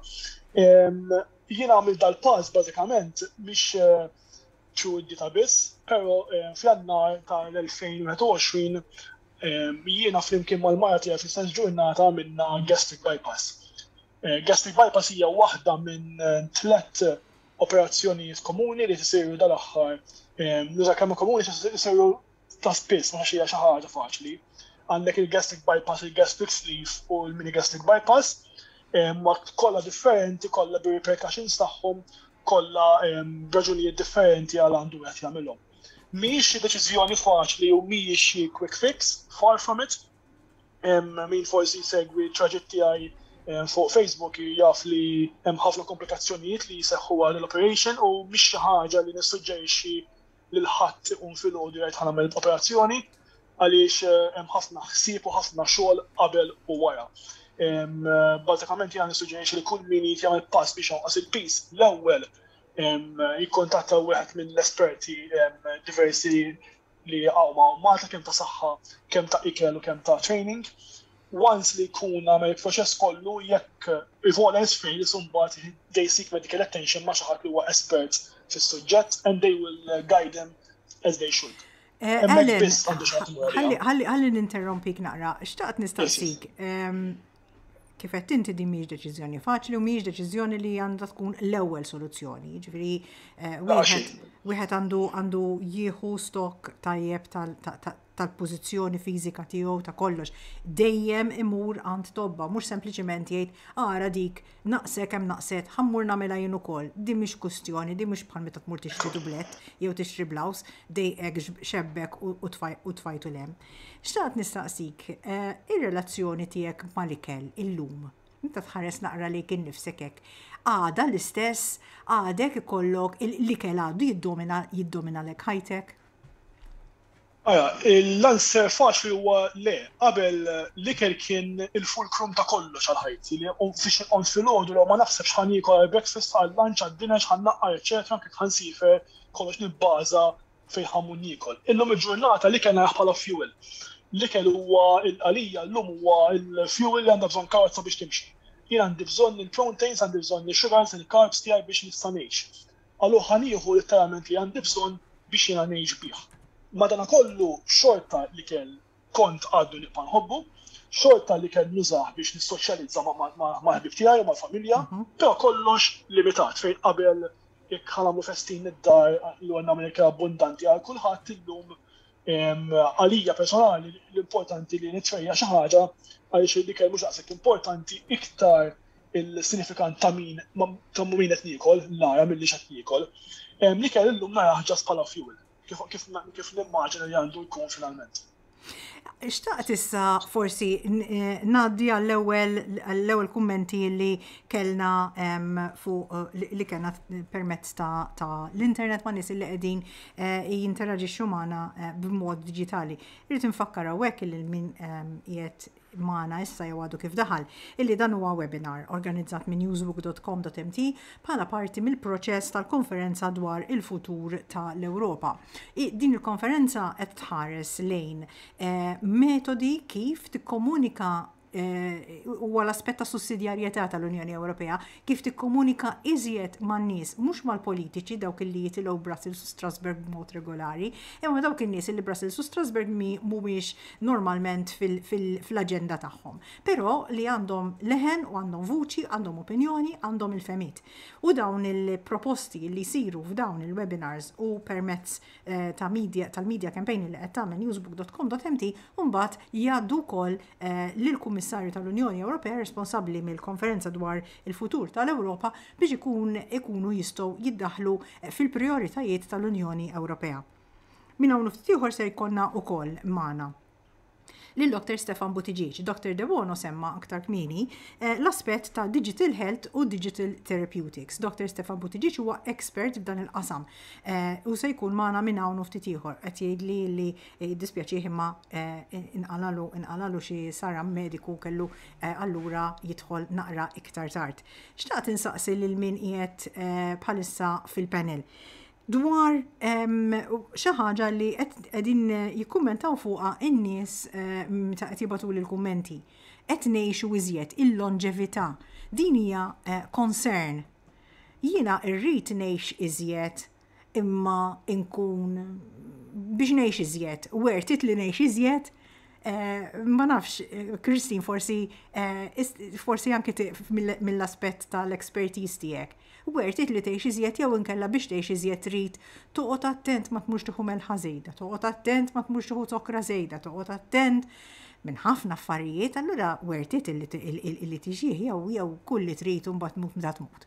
Jien għamil dal-pass bażikament mhix true id-dita biss, pero fl-annar tal-2021 jiena flimkien mal-mara tiegħi fl-istess ġurnata għamilna gastric bypass. Gastric bypass hija waħda minn tliet operazzjonijiet komuni li tisiru dal-aħħar. Nuża kemm komuni tisiru ta' spiss, ma xi ħaġa faċli. Għandek il-gastric bypass, il-gastric sleeve u l-mini gastric bypass, ma kollha differenti, kollha bi repercussions tagħhom, kollha raġunijiet differenti għal għandu qed jagħmilhom. Mhijiex xi deċiżjoni faċli u mhijiex xi quick fix, far from it, min forsi jsegwi traġitt tiegħi fuq Facebook jaf li hemm ħafna komplikazzjonijiet li jseħħu għal l-operation u mhix xi ħaġa li nissuġġerixxi lil ħadd ikun filgħodu jgħid ħanagħmel operazzjoni għaliex eh, hemm ħafna ħsieb u ħafna xogħol qabel u wara. Eh, bażikament jgħan nissuġġerixxi li kull min jrid jagħmel pass biex jonqos il-pis l-ewwel jikkontatta wieħed mill-esperti diversi li jaqgħu ma' Malta kemm ta' saħħa, kemm ta' ikel u kemm ta' training. Once li jkun għamel il-proċess kollu jekk if all else fails imbagħad they seek medical attention ma' xi ħadd li huwa espert fis-suġġett and they will guide them as they should. Eh, Ellen, ħalli ninterrompik naqra, xtaqt nistaqsik, ehm, Kif qed inti din mhijiex deċiżjoni faċli u mhijiex deċiżjoni li għandha tkun l-ewwel soluzzjoni. Ġifieri eh, wieħed għandu għandu jieħu stok tajjeb tal-pożizzjoni fiżika tiegħu ta' kollox. Dejjem imur għand tobba, mhux sempliċement jgħid ara dik Naqsek hemm naqset, ħa mmur nagħmilha jien ukoll. Din mhix kwistjoni, din mhux bħal meta tmur tixtri dublett jew tixtri blouse, dejqek, xebbek u tfajtu 'l hemm. Xtaqt nistaqsik, ir-relazzjoni tiegħek mal-ikel illum, meta tħares naqra lejk innifsek hekk, għadha l-istess, għadek ikollok, l-ikel għadu jiddominalek ħajtek? Ara, l-answer faċli huwa le. Qabel, l-ikel kien il-fulcrum ta' kollox għal ħajti, li fiex inqomt filgħodu, law ma naħsebx ħa niekol għall-breakfast, għal-lunch, għad-dinner, x'ħa nnaqqar, eċċetera, anke jekk ħa nsifer, kollox nibbaża fejn ħa mmur niekol. Illum il-ġurnata l-ikel narah bħala fuel. L-ikel huwa, għalija, llum huwa l-fuel li għandha bżonn karozza biex timxi. Jien għandi bżonn il-proteins, għandi bżonn ix-sugars, il-carbs tiegħi biex nista' ngħix. Allura ħa nieħu litteralment li għandi bżonn biex jiena ngħix bih. Madanakollu xorta l-ikel kont għadu nibqa' nħobbu, xorta l-ikel nużah biex nissoċjalizza mal-ħbieb tiegħi u mal-familja, però kollox limitat fejn qabel jekk ħa nagħmlu festin id-dar, l-għonna Amerika abbundanti għal kulħadd, illum Għalija personali l-importanti li nitfejja' xi ħaġa għaliex l-ikel mhux daqshekk importanti iktar il-sinifikant ta' min ta' min qed niekol nara milli x'qed niekol. L-ikel illum narah ġast bħala fuel kif nimmaġina li għandu jkun finalment. Xtaqt issa forsi ngħaddi għall-ewwel għall-ewwel kummenti li kellna fuq li kellna permezz ta' l-internet ma' nies li qegħdin jinteraġixxu magħna b'mod diġitali. Irrid infakkar hawnhekk li min qiegħed magħna issa jew għadu kif daħal illi dan huwa webinar organizzat minn newsbook.com.mt bħala parti mill-proċess tal-konferenza dwar il-futur tal-Ewropa. Din il-konferenza qed tħares lejn eh, metodi kif tikkomunika Eh, huwa l-aspett ta' sussidjarjetà tal-Unjoni Ewropea kif tikkomunika iżjed man-nies mhux mal-politiċi dawk li jitilgħu Brussels u Strasbourg b'mod regolari, imma dawk in-nies li Brussels u Strasbourg mhumiex normalment fl-aġenda tagħhom, però li għandhom leħen u għandhom vuċi, għandhom opinjoni, għandhom il-femit. U dawn il-proposti li jsiru f'dawn il-webinars u permezz eh, ta' media tal-media campaign li qed tagħmel newsbook.com.mt mbagħad jgħaddu wkoll lill-Kummissarju tal-Unjoni Ewropea responsabbli mill-Konferenza dwar il-Futur tal-Ewropa biex ikun ikunu jistgħu jiddaħħlu fil-prijoritajiet tal-Unjoni Ewropea. Minn hawn u ftit ieħor ser jkollna wkoll magħna lil Dr. Stefan Buttigieg. Dr. Debono semma aktar kmieni l-aspett ta' Digital Health u Digital Therapeutics. Dr. Stefan Buttigieg huwa expert f'dan il-qasam u se jkun magħna minn hawn u ftit ieħor. Qed jgħidli li Jiddispjaċih imma inqalagħlu inqalagħlu xi saram mediku u kellu allura jidħol naqra iktar tard. Xtaqt insaqsi lil min qiegħed bħalissa fil-panel dwar xi ħaġa li qegħdin jikkummentaw fuqha in-nies meta qed jibgħatu l-kummenti. Qed ngħixu iżjed il-lonġevità. Din hija concern. Jiena rrid ngħix iżjed imma nkun biex ngħix iżjed, wertit li ngħix iżjed, eh, ma nafx, Kristin forsi eh, forsi anke mill-aspett tal-expertise tiegħek. Wertit li tgħix iżjed jew inkella biex tgħix iżjed trid toqgħod attent ma tmux tieħu melħa żejda, toqgħod attent ma tmux tieħu zokra żejda, toqgħod attent minn ħafna affarijiet, allura wertit li tiġih jew jew kull li trid imbagħad tmut meta tmut.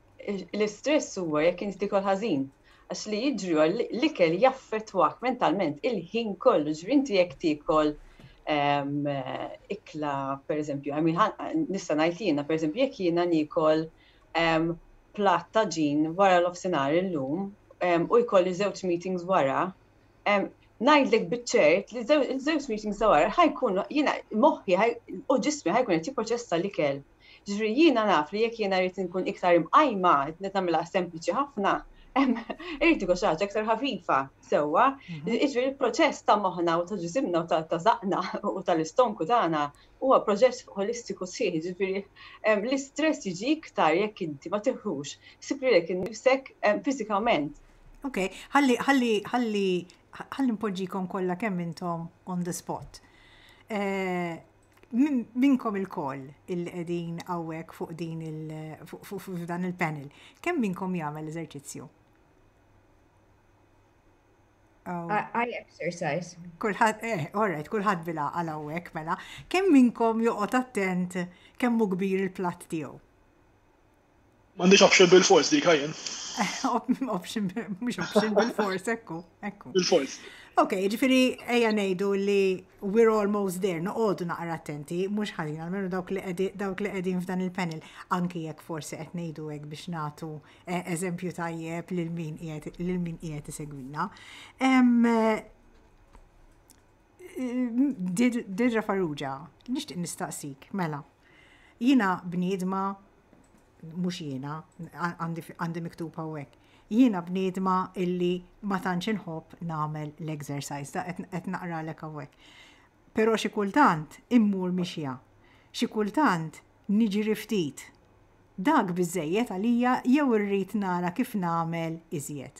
l-istress huwa jekk inti tikol ħażin. Għax li jiġri huwa l-ikel jaffettwak mentalment il-ħin kollu. Ġifieri inti jekk tikol ehm, ikla pereżempju, nista' ngħid jiena pereżempju jekk jiena nikol ehm, platt ta' ġin wara l-ofsinhar illum ehm, u jkolli żewġ meetings wara, ngħidlek biċċert li żewġ meetings ta' wara ħajkun jiena moħħi u ġismi ħajkun qed jipproċessa l-ikel Ġifieri jiena naf li jekk jiena rrid inkun iktar imqajma, qed nagħmilha sempliċi ħafna, Irrid ikun xi ħaġa aktar ħafifa, sewwa, mhm. jiġri l-proċess ta' moħħna u ta' ġisimna u ta' zaqna u tal-istonku tagħna huwa proċess holistiku sħiħ, ġifieri l-istress jiġi iktar jekk inti ma tiħux, sibri lek innifsek fiżikament. Ok, ħalli ħalli ħalli ħalli npoġġikom kollha kemm intom on the spot. Eh, Minnkom ilkoll illi qegħdin hawnhekk fuq din il f'dan il-panel, kemm minnkom jagħmel l-eżerċizzju? I exercise. Kulħadd, eh, all right, kulħadd bil-għaqal hawnhekk mela. Kemm minnkom joqgħod attent kemm hu kbir il-platt tiegħu? M'għandix option bil-fors dik jien. Option, mhux option bil-fors, ekku, ekku. Bil-fors. Ok, ġifiri, eja nejdu li we're almost there, noqodu naqra attenti, mux ħazin, għalmenu dawk li dawk li għedin f'dan il-panel, anki jekk forsi qed nejdu għek biex natu eh, eżempju tajjeb lil min qiegħed isegwina. Dirra Farrugia, nixtieq nistaqsik, mela, jina bniedma mhux jiena għandi miktub hawnhekk. Jiena bniedma illi ma tantx inħobb nagħmel l-exercise ta' qed naqralek hawnhekk. Però xi kultant immur mixja. Xi kultant niġri ftit. Dak biżejjed għalija jew irrid nara kif nagħmel iżjed.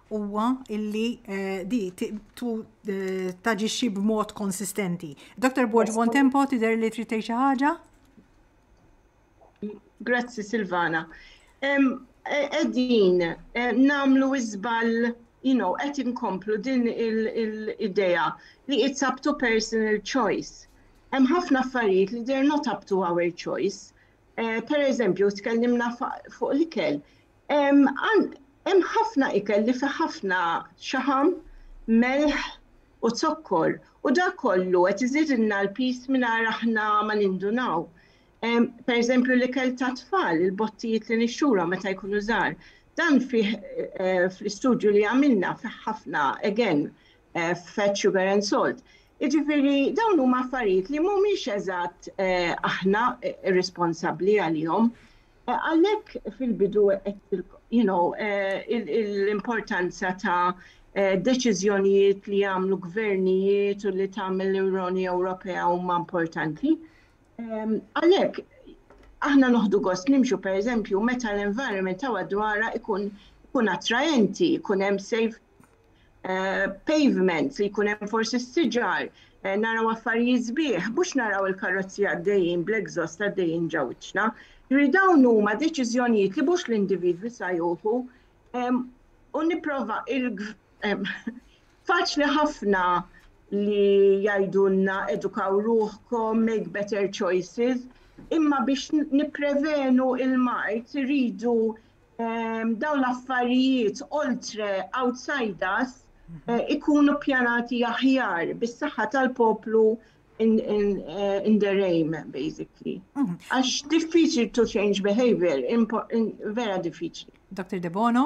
huwa illi di taġixxi b'mod konsistenti. Dr. Borg Bontempo tidher li trid tgħid xi ħaġa? Grazzi Silvana. Qegħdin nagħmlu iżbal you know, qed inkomplu din il-idea li it's up to personal choice. Hemm ħafna affarijiet li they're not up to our choice. Eh, per eżempju, tkellimna fuq l-ikel, Hemm ħafna ikel li fih ħafna xaħam, melħ u zokkor u dak kollu qed iżidilna l-piż mingħajr aħna ma nindunaw. Pereżempju l-ikel tat-tfal, il-bottijiet li nixxulhom meta jkunu żgħar, dan fih fl-istudju li għamilna fih ħafna again fat, sugar and salt. Jiġifieri dawn huma affarijiet li mhumiex eżatt aħna responsabbli għalihom. Għalhekk fil-bidu għedtilkom, you know, l-importanza ta' deċiżjonijiet li jagħmlu gvernijiet u li tagħmel l-Unjoni Ewropea huma importanti. Għalhekk aħna noħdu gost nimxu pereżempju meta l-environment ta' dwarha ikun ikun attraenti, ikun hemm safe pavements li jkun hemm forsi s-siġar, naraw affarijiet sbieħ, mhux naraw il-karozzi għaddejjin bl-exhaust għaddejjin ġo wiċċna. Jiġifieri dawn huma deċiżjonijiet li mhux l-individwi sa jieħu u nipprova faċli ħafna li jgħidulna edukaw ruħkom, make better choices, imma biex nipprevenu l-mard iridu dawn l-affarijiet oltre outside us ikunu pjanati aħjar bis-saħħa tal-poplu in, in, uh, in their aim, basically. Mhm. Għax mm -hmm. diffiċli to change behavior, vera diffiċli. Dr. De Bono?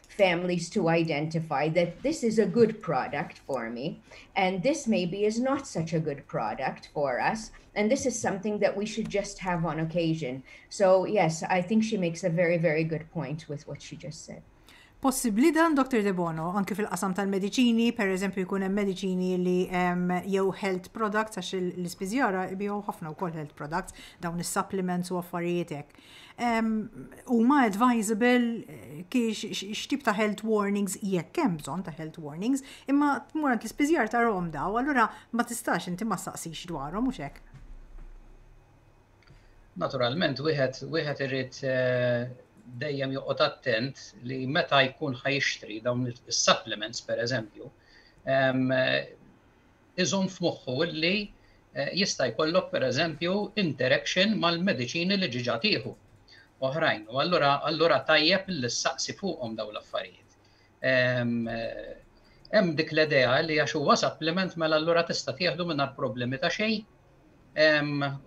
families to identify that this is a good product for me and this maybe is not such a good product for us and this is something that we should just have on occasion. So yes, I think she makes a very, very good point with what she just said. Possibli dan, Dr. Debono, anki fil-qasam tal-medicini, per eżempju jkun hemm medicini li jew health products, għax l-ispiżjara ibijaw ħafna wkoll health products, dawn is-supplements u affarijiet hekk. Huma advisable kiex x'tip ta' health warnings jekk hemm bżonn ta' health warnings, imma tmur għand l-ispiżjar tarhom daw, allura ma tistax inti ma saqsix dwarhom mhux hekk. Naturalment wieħed wieħed irid eh, dejjem joqgħod attent li meta jkun ħajxtri dawn is-supplements pereżempju, iżomm f'moħħu li jista' jkollok pereżempju interaction mal-mediċini li diġà tieħu oħrajn u allura allura tajjeb li ssaqsi fuqhom dawn l-affarijiet. Hemm dik l-idea li għax huwa supplement mela allura tista' tieħdu mingħajr problemi ta' xejn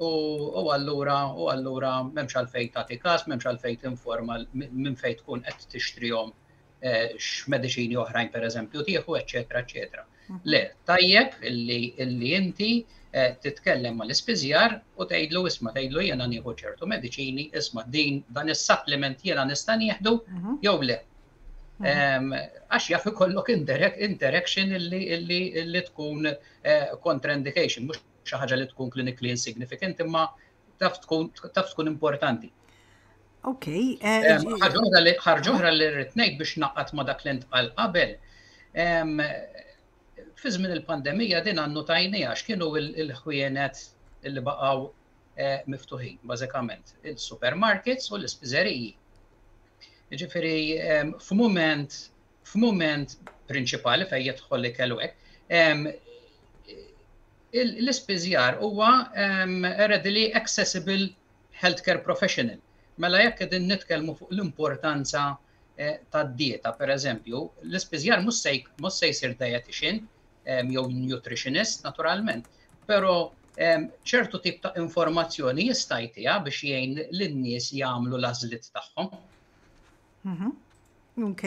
u allura u allura m'hemmx għalfejn tagħti każ, m'hemmx għalfejn tinforma minn fejn tkun qed tixtrihom x'mediċini oħrajn pereżempju tieħu, eċċetera, eċċetera. Mhm. Le, tajjeb illi inti eh, titkellem mal ispiżjar u tgħidlu isma' tgħidlu jiena nieħu ċertu mediċini, isma' din dan is-supplement jiena nista' nieħdu mhm. jew le. Mhm. Għax jaf ikollok interaction illi tkun eh, contraindication, mhux xi ħaġa li tkun klinikli insignificant imma taf tkun importanti. Ok. Eh, Ħarġuħra li rritnejt biex naqat ma dak l-ent għal qabel. Fi żmien il-pandemija din għannu tajni għax kienu il-ħwienet li baqaw eh, miftuħin, bażikament, il-supermarkets u l-ispiżeriji. Ġifiri, f'mument, f'mument prinċipali fejn jidħol li kellu l-ispiżjar huwa readily accessible healthcare professional. Mela jekk qegħdin nitkellmu fuq l-importanza tad-dieta, pereżempju, l-ispiżjar mhux se mhux se jsir dietician jew nutritionist naturalment, però ċertu tip ta' informazzjoni jista' jtiha biex jgħin lin-nies jagħmlu l-għażliet tagħhom. Mhm. Ok.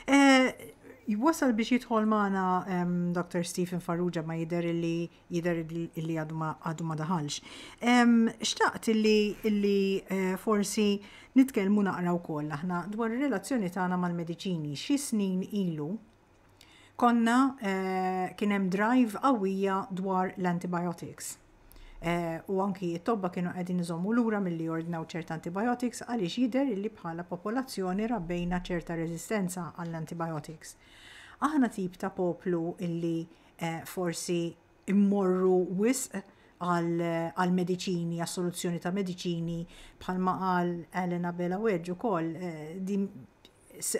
Eh, Wasal biex jidħol maħna Dr. Stephen Farrugia ma jider illi jider illi għadu ma daħalx. Xtaqt illi illi eh, forsi nitkelmu naqra u koll aħna dwar il-relazzjoni tagħna mal-medicini xi snin ilu Konna kien hemm drive qawwija dwar l-antibiotics. U anki t-tobba kienu qegħdin iżommu lura milli jordnaw ċerta antibiotics għaliex jidher illi bħala popolazzjoni rabbejna ċerta reżistenza għall-antibiotics. Aħna tip ta' poplu illi forsi mmorru wisq għal mediċini, għas soluzzjoni ta' mediċini, bħalma qal Elena Bela Wedge ukoll,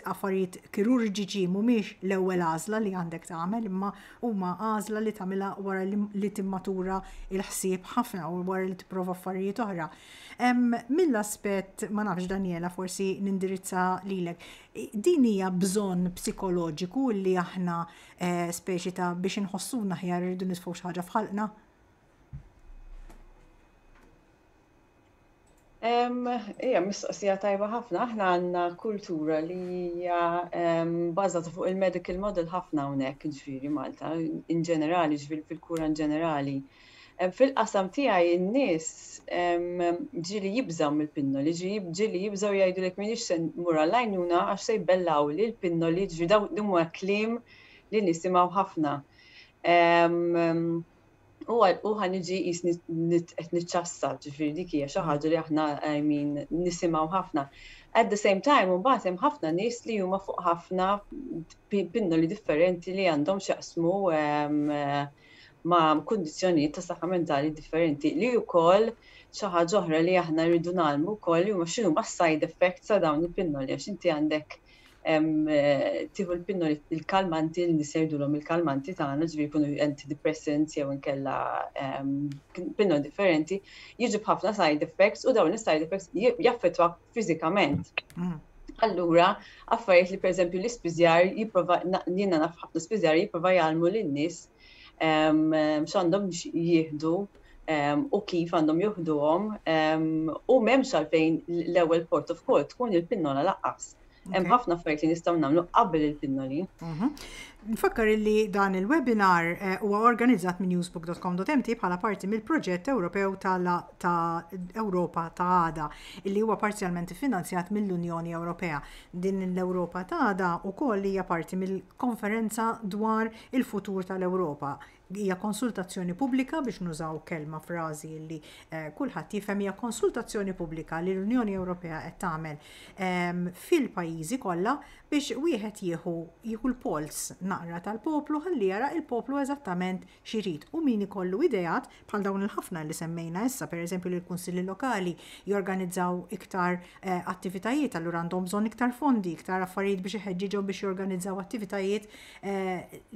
Affarijiet kirurġiċi mhumiex l-ewwel għażla li għandek tagħmel imma huma għażla li tagħmilha wara li timmatura l-ħsieb ħafna u wara li tipprova affarijiet oħra. Mill-aspett, ma nafx Daniela forsi nindirizza lilek, din hija bżonn psikoloġiku li aħna speċi ta' biex inħossuna aħjar irridu nitfgħu xi ħaġa f'ħalqna? Hija mistoqsija tajba ħafna. Aħna għandna kultura li hija bażata fuq il-medical model ħafna hawnhekk, ġifieri Malta in ġenerali, ġifieri fil-kura in ġenerali. Fil-qasam tiegħi n-nies ġieli jibżgħu mill-pinnoli, ġieli jibżgħu jgħidulek m'iniex se mmur għall-għajnuna għax se jbellgħuli l-pinnoli, ġifieri dawn huma kliem li nisimgħu ħafna. u ħa niġi jisni qed niċċassa, ġifieri dik hija xi ħaġa li aħna I mean nisimgħu ħafna. At the same time imbagħad hemm ħafna nies li huma fuq ħafna pinnoli differenti li għandhom x'jaqsmu ehm, ma' kundizzjonijiet ta' saħħa mentali differenti li wkoll xi ħaġa oħra li aħna rridu nagħmlu wkoll huma x'inhuma s-side effects ta' dawn il-pinnoli għax inti għandek tieħu l-pinnoli il-kalmanti li niserdulhom il-kalmanti tagħna, ġifieri jkunu antidepressants jew inkella pinnoli differenti, jiġu b'ħafna side effects u dawn is-side effects jaffettwa fiżikament. Mm. Allura, affarijiet li pereżempju l-ispiżjar jipprova jiena naf ħafna spiżjar jipprova jgħallmu lin-nies x'għandhom jieħdu u kif għandhom juħduhom u m'hemmx għalfejn l-ewwel port of call tkun il-pinnola laqqas. Hemm ħafna affarijiet li nistgħu nagħmlu qabel il-pinnoli. Mhm. Nfakkar li dan il-webinar eh, huwa organizzat minn newsbook.com.mt bħala parti mill-proġett Ewropew ta' Ewropa ta' għada li huwa parzjalment finanzjat mill-Unjoni Ewropea. Din l-Ewropa ta' għada wkoll hija parti mill Konferenza dwar il-futur tal-Ewropa. Hija konsultazzjoni pubblika biex nużaw kelma frażi li kulħadd jifhem hija konsultazzjoni pubblika li l-Unjoni Ewropea qed tagħmel ehm, fil-pajjiżi kollha biex wieħed jieħu jieħu l-pols naqra tal-poplu ħalli jara il-poplu eżattament x'irid u min ikollu ideat bħal dawn il-ħafna li semmejna issa, pereżempju li l-Kunsilli Lokali jorganizzaw iktar attivitajiet, allura għandhom bżonn iktar fondi, iktar affarijiet biex iħeġġiġhom biex jorganizzaw attivitajiet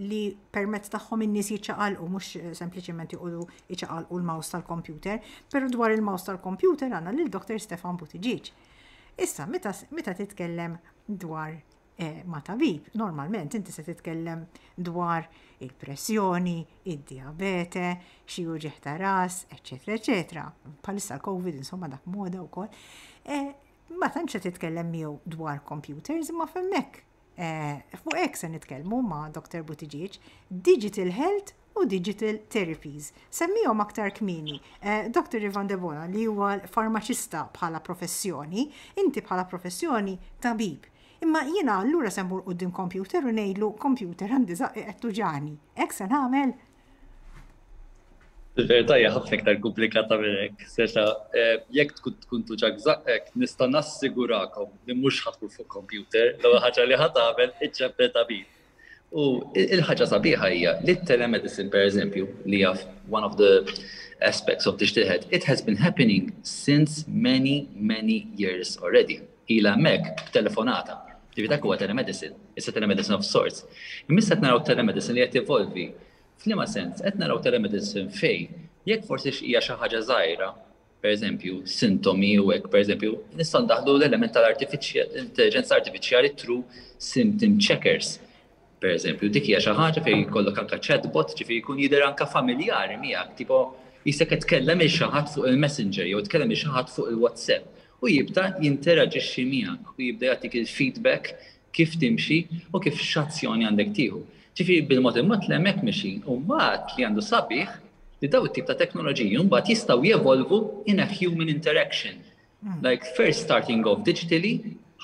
li permezz tagħhom in-nies jiċċaqalqu mhux sempliċement joqogħdu jċaqalqu l-mouse tal-kompjuter. Però dwar il-mouse tal-kompjuter għandna lil Dr. Stefan Buttigieg. Issa meta titkellem dwar eh, ma' tabib, normalment inti se titkellem dwar il-pressjoni, id-diabete, xi uġeħ ta' ras, eċetera, eċetera. Palissa l-Covid, insomma, dak moda wkoll. Eh, ma tantx se titkellem miegħu dwar computers, ma femmek. Eh, fuq hekk se nitkellmu ma' Dr. Butiġiġ, digital health u Digital Therapies. Semmihom aktar kmieni. Doctor Ivan Debono li huwa farmaċista bħala professjoni, inti bħala professjoni tabib. Imma jiena allura se mmur quddiem kompjuter u ngħidlu kompjuter għandi żaqqi qed tuġani. Hekk se nagħmel? Il-verità hija ħafna iktar komplikata minn hekk. Seta' jekk tkun tuġak żaqqek, nista' nassigurakom li mhux ħa tmur fuq kompjuter, l-ewwel ħaġa li ħa tagħmel iċċempel tabib. U il-ħaġa sabiħa hija li t-telemedicine pereżempju li jaf one of the aspects of diġ tiħed, it has been happening since many, many years already. Ila hemmhekk b'telefonata. Ġifieri dak huwa telemedicine, it's a telemedicine of sorts. Imissa qed naraw telemedicine li qed evolvi. F'liema sens, qed naraw telemedicine fejn jekk forsi hija xi ħaġa żgħira, pereżempju, sintomi u hekk, pereżempju, nistgħu ndaħħlu l-element tal-intelliġenza artifiċjali through symptom checkers. Pereżempju, dik hija xi ħaġa fejn jkollok anke chatbot, ġifieri jkun jidher anke familjari miegħek, tipo jista' qed tkellem il xi ħadd fuq il-messenger jew tkellem il xi ħadd fuq il-WhatsApp u jibda jinteraġixxi miegħek u jibda jagħtik il-feedback kif timxi u kif x'azzjoni għandek tieħu. Ġifieri bil-mod il-mod li hemmhekk mixin u mbagħad li għandu sabiħ li dawn it-tip ta' teknoloġiji mbagħad jistgħu jevolvu in a human interaction. Hmm. Like first starting off digitally,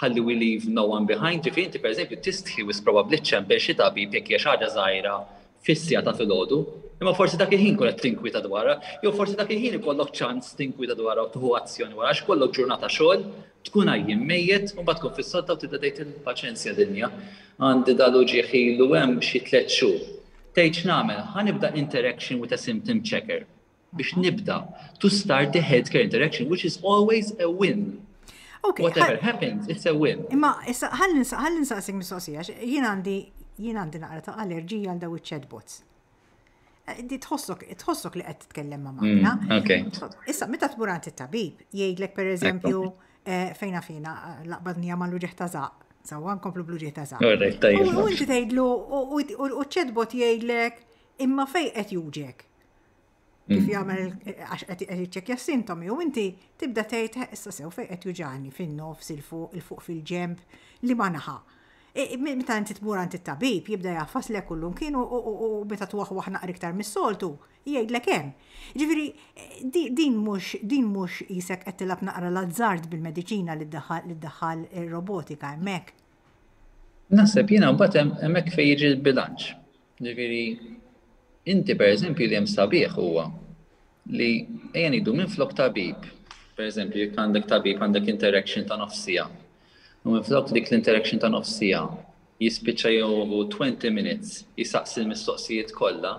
ħalli we leave no one behind, ġifieri inti pereżempju tistħi wis probabbli ċċempel xi tabib jekk hija xi ħaġa żgħira fis-siegħa ta' filgħodu, imma forsi dak il-ħin tkun qed tinkwieta dwarha, jew forsi dak il-ħin ikollok ċans tinkwieta dwarha u tieħu azzjoni wara għax kollok ġurnata xogħol, tkun għajjien mejjet u mbagħad tkun fis-sodda u tibda tgħid il-paċenzja dinja. Għandi dal-uġigħ ilu hemm xi tliet xhur. Tgħid x'nagħmel, ħa nibda interaction with a symptom checker. biex nibda to start the healthcare interaction, which is always a win. Okay, Whatever happens, it's a win. Imma, ħallin saqsik mistoqsija, jien għandi jien għandi naqra ta' allerġija għal daw iċ-chatbots. Eh, di tħossok, tħossok li qed titkellem ma' mm, magna. Issa, meta tmur għand it-tabib, jgħidlek per eżempju eh, fejna fina laqbadnija ma' l-uġeħ ta' zaq. Sawa nkomplu bl-uġeħ ta' zaq. U inti tgħidlu u ċ-chatbot jgħidlek imma fej qed juġek. Kif mm. jagħmel għax qed iċċekkja sintomi u inti tibda tgħid eh, issa sew fejn qed juġani fin-nofs il-fuq il-fuq fil-ġemp li ma naħa. E, e, meta inti tmur għand it-tabib jibda jaffas lek kullum kienu u meta twaħwaħ naqri iktar mis-soltu jgħidlek hemm. Ġifieri e, din mhux din mhux isek qed tilab naqra l-azzard bil-mediċina li ddaħħal robotika hemmhekk. Naħseb jiena mbagħad hemmhekk fejn jiġi l-bilanċ. Ġifieri, inti pereżempju li hemm sabiħ huwa li ejja ngħidu minflok tabib, pereżempju jekk għandek tabib għandek interaction ta' nofs siegħa. U minflok dik l-interaction ta' nofs siegħa jispiċċa jew 20 minutes jisaqsi l-mistoqsijiet kollha,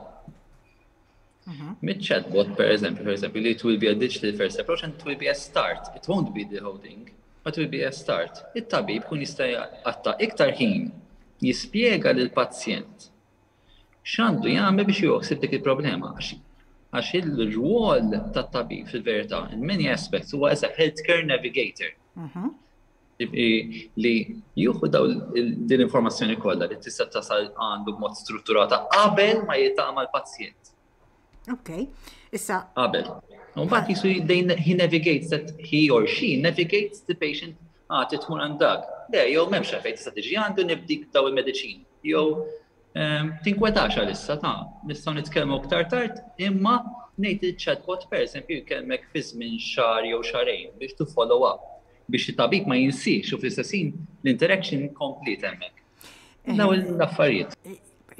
Mit-chatbot, per eżempju, per eżempju, li it will be a digital first approach and it will be a start. It won't be the whole thing, but it will be a start. It-tabib kun jista' jaqatta iktar ħin jispjega lil pazjent x'għandu jagħmel biex joħsib dik il-problema. Għax il-rwol tat-tabib fil-verità, in many aspects, huwa as a healthcare navigator. Mhm. li juhu daw din informazzjoni kollha li tista' tasal għandu b'mod strutturata qabel ma jitama l-pazjent. Ok, issa. Qabel. Mbagħad jisu he navigates that he or she navigates the patient għati ah, tmur għandak. Le, jew m'hemmx fejn tista' tiġi għandu nibdik daw il-mediċin. Jew Tinkwetax għalissa, ta, nistgħu nitkellmu iktar tard, imma ngħid li ċ-chatbot pereżempju jkellmek fi żmien xahar jew xahrejn biex tu follow up biex it-tabib ma jinsiex u fl-istess ħin l-interaction kompliet hemmhekk. Daw l-affarijiet.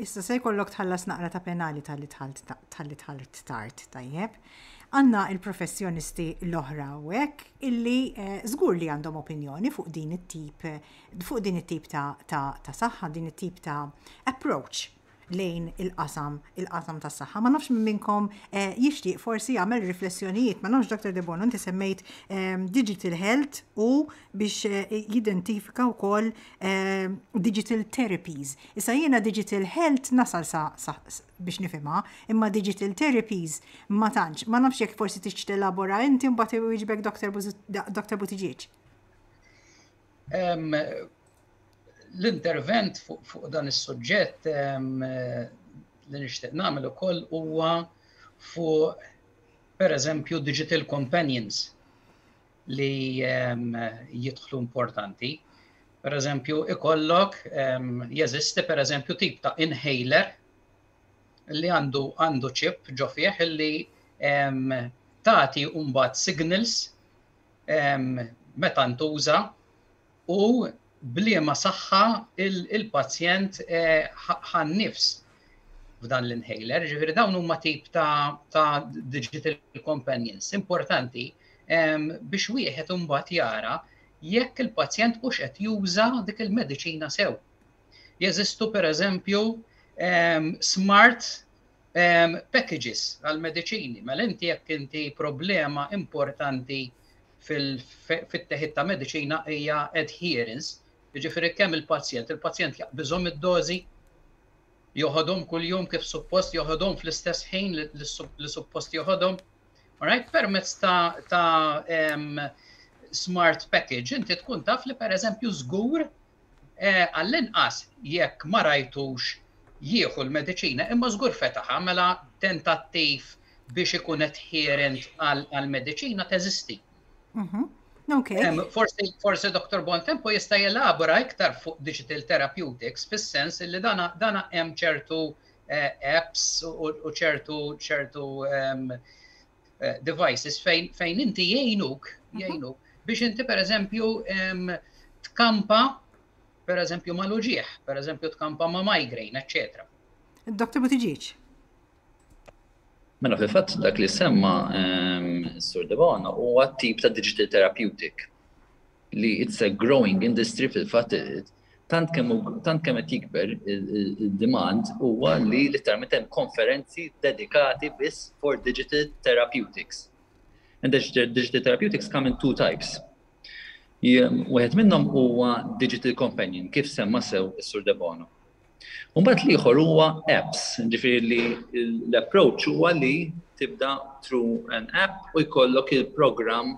Issa se jkollok tħallas naqra ta' penali tal-li tħalt tard tajjeb. Għanna il-professjonisti l-oħra u hekk illi żgur eh, li għandhom opinjoni fuq din it-tip fuq din it-tip ta' saħħa, din it-tip ta' approach lejn il-qasam, il-qasam tas saħħa Ma nafx minn minnkom eh, jixtieq forsi jagħmel riflessjonijiet, ma nafx Dr. Debono inti semmejt ehm, digital health u biex eh, jidentifika wkoll ehm, digital therapies. Issa jiena digital health nasal sa, sa biex nifhimha, imma digital therapies ma tantx, ma nafx jekk forsi tixtieq telabora inti mbagħad iwieġbek Dr. Butiġieġ. L-intervent fuq dan is-suġġett li nixtieq nagħmel ukoll huwa fuq pereżempju digital companions li jidħlu importanti. Pereżempju ikollok jeżisti pereżempju tip ta' inhaler li għandu għandu ċip ġo fih li tagħti mbagħad signals meta ntuża u bliema saħħa il-pazjent ħan-nifs f'dan l-inhaler. Ġifieri dawn huma tip ta' digital companions importanti biex wieħed imbagħad jara jekk il-pazjent hux qed juża dik il-mediċina sew. Jeżistu pereżempju smart packages għall-mediċini. Mela inti jekk inti problema importanti fit-teħid ta' mediċina hija adherence, jiġifieri kemm il-pazjent, il-pazjent jaqbiżhom id-dożi, joħodhom kuljum kif suppost, joħodhom fl-istess ħin li suppost joħodhom. Alright, permezz ta' smart package inti tkun taf li pereżempju żgur Għall-inqas jekk ma rajtux jieħu l-mediċina, imma żgur fetaħha, mela tentattiv biex ikun adherent għall-mediċina teżisti. Mhm. Forsi Dr. Bontempo jista' jelabora iktar fuq digital therapeutics fis-sens li dana hemm ċertu eh, apps u ċertu ċertu ehm, eh, devices fejn fejn inti jgħinuk mhm. jgħinuk biex inti pereżempju tkampa pereżempju ma' luġieħ, pereżempju tkampa ma' migraine, eċċetera. Doktor Butiġiċ. Mela fil-fatt dak li semma Sur Devona huwa tip ta' digital therapeutic li it's a growing industry fil-fatt Tant kemm hu, tant kemm qed jikber id-demand huwa li litteralment hemm konferenzi dedikati biss for digital therapeutics. And digital therapeutics come in two types. Wieħed minnhom huwa digital companion, kif semma sew is-Sur Debono. U mbagħad l-ieħor huwa apps, ġifieri li l-approach huwa li tibda through an app u jkollok il-programm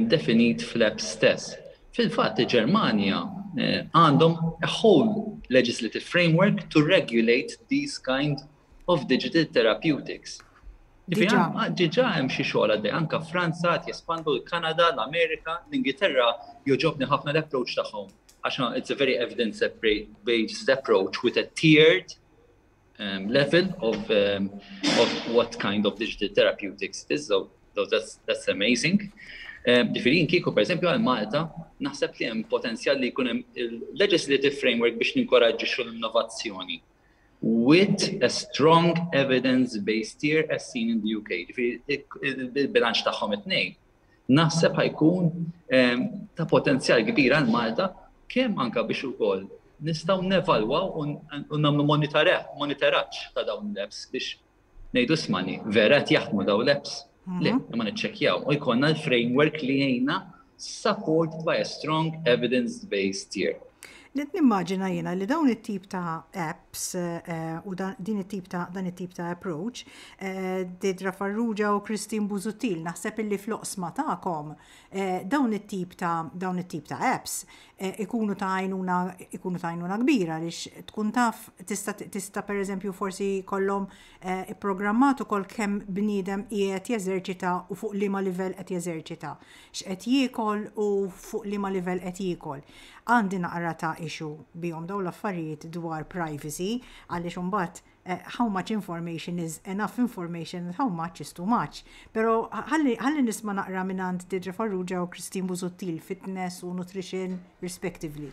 definit fl-apps stess. Fil-fatt, il-Ġermanja għandhom a whole legislative framework to regulate these kind of digital therapeutics. Ġiġa hemm xi xogħol għaddej, anka Franza qed jespandu l-Kanada, l-Amerika, l-Ingilterra joġobni ħafna l-approach tagħhom għax it's a very evidence-based approach with a tiered level of what kind of digital therapeutics it is, that's amazing. Ġifieri jien kieku pereżempju għal Malta, naħseb li hemm potenzjal li jkun hemm il-legislative framework biex ninkoraġġixxu l-innovazzjoni with a strong evidence base tier as seen in the UK. Ġifieri il-bilanċ tagħhom it-tnejn Naħseb ħa jkun ta' potenzjal kbir għal Malta kemm anke biex ukoll nistgħu nevalwaw u nagħmlu monitoraġġ ta' dawn l-apps biex ngħidu smani, vera qed jaħdmu dawn l-apps? Le, imma niċċekkjaw u jkollna l-framework li jgħinna support by a strong evidence-based tier. Qed nimmaġina jiena li dawn it-tip ta' apps u din it-tip ta' dan it-tip ta' approach, Didra Farrugia u Christine Busuttil, naħseb illi fl-oqsma tagħkom dawn it-tip ta' dawn it-tip ta' apps ikunu ta' għajnuna ikunu ta' għajnuna kbira għaliex tkun taf tista' tista' pereżempju forsi jkollhom ipprogrammat ukoll kemm bniedem qiegħed jeżerċita u fuq liema livell qed jeżerċita. x'qed jiekol u fuq liema livell qed jiekol. Għandi naqra ta' issue bihom dawn l-affarijiet dwar privacy għaliex imbagħad how much information is enough information and how much is too much. Però ħalli nisma' naqra mingħand Deirdre Farrugia u Christine Busuttil, fitness u nutrition respectively.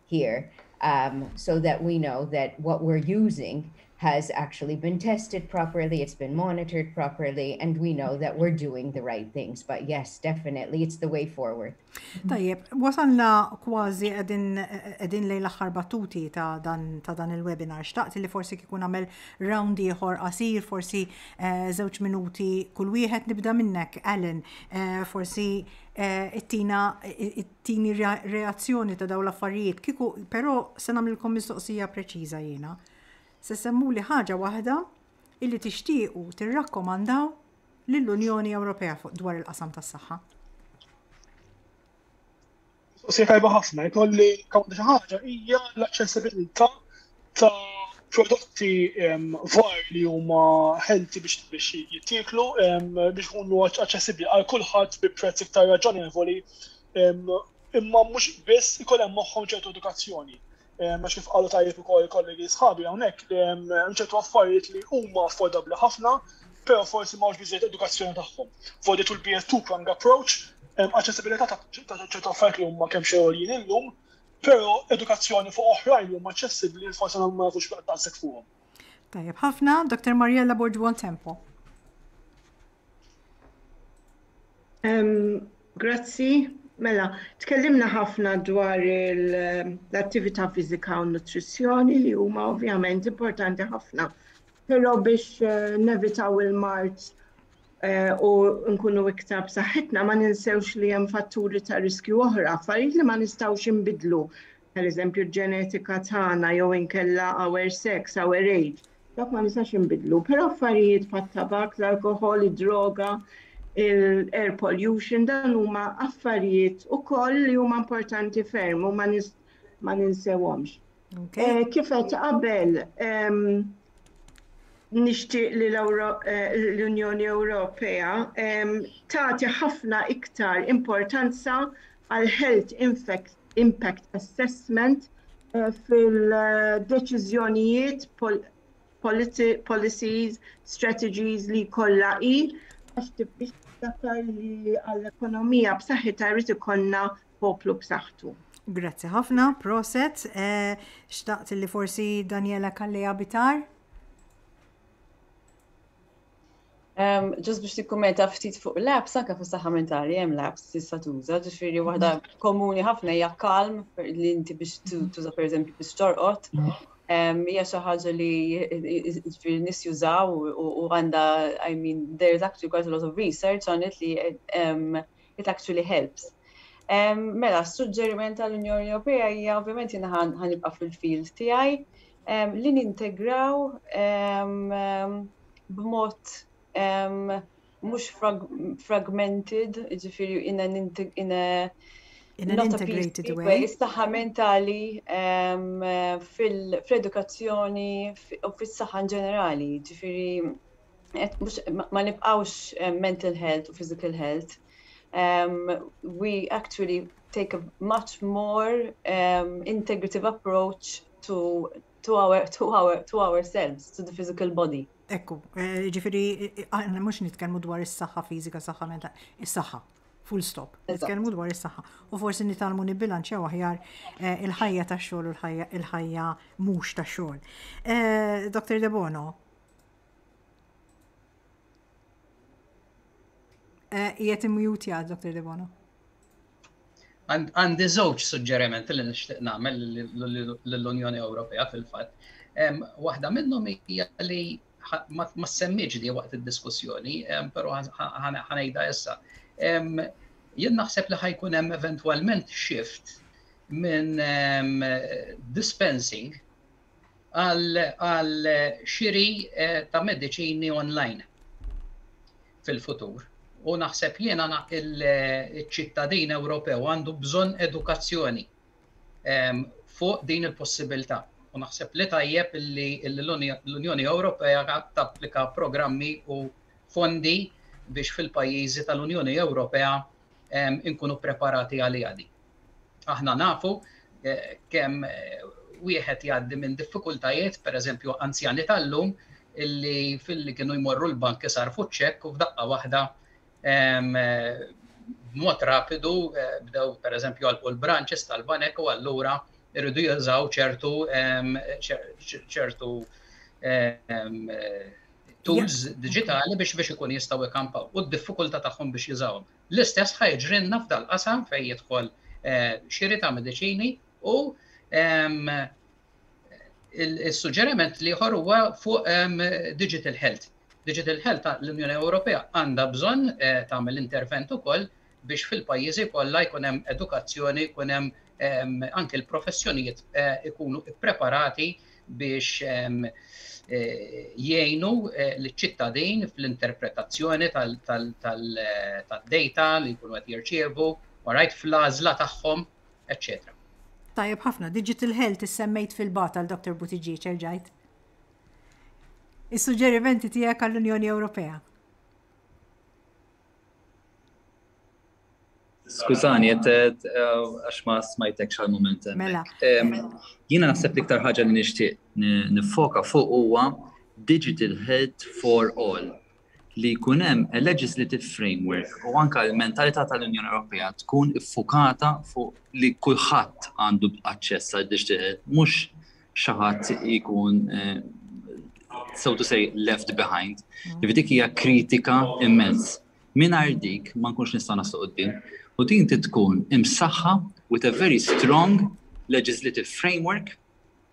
here so that we know that what we are using has actually been tested properly, it has been monitored properly and we know that we are doing the right things. But yes, definitely, it is the way forward. Tajjeb, wasalna kważi edin lejn l-axħar battuti ta' dan il-webinar. Xtaqt li forsi kikun għamel round ieħor qasir, forsi zewċ eh, minuti kull wieħed nibda minnek, Alan, eh, forsi eh, it-tina tini reazzjoni ta' daw l-affarijiet, kieku, però se nagħmlilkom mistoqsija preċiża jiena. Se semmuli ħaġa waħda illi tixtiequ tirrakkomandaw lill-Unjoni Ewropea dwar il-qasam tas-saħħa? Mistoqsija tajba ħafna, jkolli kawn xi ħaġa hija l-aċċessibilità ta' prodotti var li huma ħelti biex biex jittiklu biex ikunu aċċessibbli għal kulħadd bi prezz iktar raġonevoli imma mhux biss ikun hemm magħhom ċertu edukazzjoni. Għax kif qalu tajjeb ukoll kollegi sħabi hawnhekk li hemm ċertu affarijiet li huma affordabbli ħafna, però forsi ma biżejjed edukazzjoni tagħhom. Fodi tul bijet two-prong approach, aċċessibilità ta' ċertu affarijiet li huma kemm xejn illum Però edukazzjoni fuq oħrajn li huma aċċessibbli li forsi ma nafux daqshekk fuqhom. Tajjeb ħafna, Dr. Mariella Borġwon Tempo. Grazzi, mela, tkellimna ħafna dwar l-attività fizika u nutrizzjoni li huma ovvjament importanti ħafna. Però biex eh, nevitaw il-mart u nkunu iktar b'saħħitna, ma ninsewx li hemm fatturi ta' riskju oħra, affarijiet li ma nistgħux inbiddlu, pereżempju l-ġenetika tagħna jew inkella our sex, our age. Dak ma nistax inbiddlu, però affarijiet bħat-tabakk, l-alkoħol, id-droga, l-air pollution, dan huma affarijiet ukoll li huma importanti ferm u ma ninsewhomx. Eh, kif qed qabel nixtieq li eh, l-Unjoni Ewropea tagħti ħafna iktar importanza għal health impact assessment eh, fil-deċiżjonijiet policies, strategies li kollha hi għax tibdix li għall-ekonomija b'saħħitha jrid ikollna poplu b'saħħtu. Grazzi ħafna, proset. Eh, xtaqt li forsi Daniela Kalleja Bitar? Um, just biex tikkumenta ftit fuq labs, anka fis saħħa mentali hemm labs tista' tuża, ġifieri mhm. waħda komuni ħafna hija kalm li inti biex mhm. tuża pereżempju biex torqod. Mhm. Hija xi ħaġa li ġifieri nies jużaw u għandha I mean there is actually quite a lot of research on it li it actually helps. Mela, s-suġġeriment tal-Unjoni Ewropea hija ovvjament jien ħanibqa' fil-field tiegħi li nintegraw b'mod mhux fragmented, ġifieri in an in a in an integrated way. Is-saħħa mentali fl-edukazzjoni u fis-saħħa ġenerali, ġifieri ma nibqgħux mental health u physical health um, we actually take a much more um, integrative approach to to our to our to ourselves to the physical body. Ekku, eh, ġifiri, eh, aħna mhux nitkellmu dwar is-saħħa fiżika, saħħa menta, is-saħħa. Full stop. Nitkellmu dwar is-saħħa. U forsi nitalmu nibbilanċja aħjar eh, il-ħajja tax-xogħol u l-ħajja mhux tax-xogħol. Dr. Debono, Eh, Jiet imjuti għad, Dr. Debono. Għandi żewġ suġġeriment li nixtieq nagħmel l-Unjoni Ewropea fil-fatt. Waħda minnhom hija li ma semmiġ di waqt id-diskussjoni, però ħanejda issa. Jien naħseb li ħajkun hemm eventwalment shift minn dispensing għal xiri ta' mediċini online fil-futur. U naħseb jiena il-ċittadin Ewropew għandu bżonn edukazzjoni ehm, fuq din il-possibilità. U naħseb li tajjeb li l-Unjoni Ewropea tapplika programmi u fondi biex fil-pajjiżi tal-Unjoni Ewropea inkunu ppreparati għaliha din. Aħna nafu kemm wieħed jgħaddi minn diffikultajiet, pereżempju anzjani tal-lum, illi filli kienu jmorru l-bank isarfu ċekk u f'daqqa waħda b'mod rapidu eh, bdew pereżempju għalqu l-branches tal-banek u allura irridu jużaw ċertu ċertu tools diġitali biex biex ikun jistgħu jkampaw u d-diffikultà tagħhom biex jużawhom. L-istess ħa jiġrilna f'dal-qasam fejn jidħol eh, xiri ta' mediċini u ehm, il-suġġeriment li ieħor huwa fuq ehm, digital health. Digital health l-Unjoni Ewropea għandha bżonn eh, tagħmel intervent ukoll biex fil-pajjiżi kollha jkun hemm edukazzjoni, jkun hemm anke l-professjonijiet ikunu ppreparati biex jgħinu l-ċittadin fl-interpretazzjoni tad-data li jkunu qed jirċievu, alright, fl-għażla tagħhom, eċċetera. Tajjeb ħafna, digital health issemmejt fil-bogħod għal Dr. Buttigieg, erġajt. Is-suġġerimenti tiegħek għall-Unjoni Ewropea. Skużani, jett għax ma smajtek xal moment. Mela. Jina naħseb li ktar ħagġa li nishtiq nifoka fuq huwa Digital Health for All li kunem a legislative framework u anka l-mentalità tal-Unjoni Ewropea tkun iffukata fuq li kulħadd għandu aċċess għal digital health, mhux xi ħadd ikun so to say left behind. Mm. Dik hija kritika immens. Mingħajr dik ma nkunx nista' naslu qudiem. U din tkun imsaħħa with a very strong legislative framework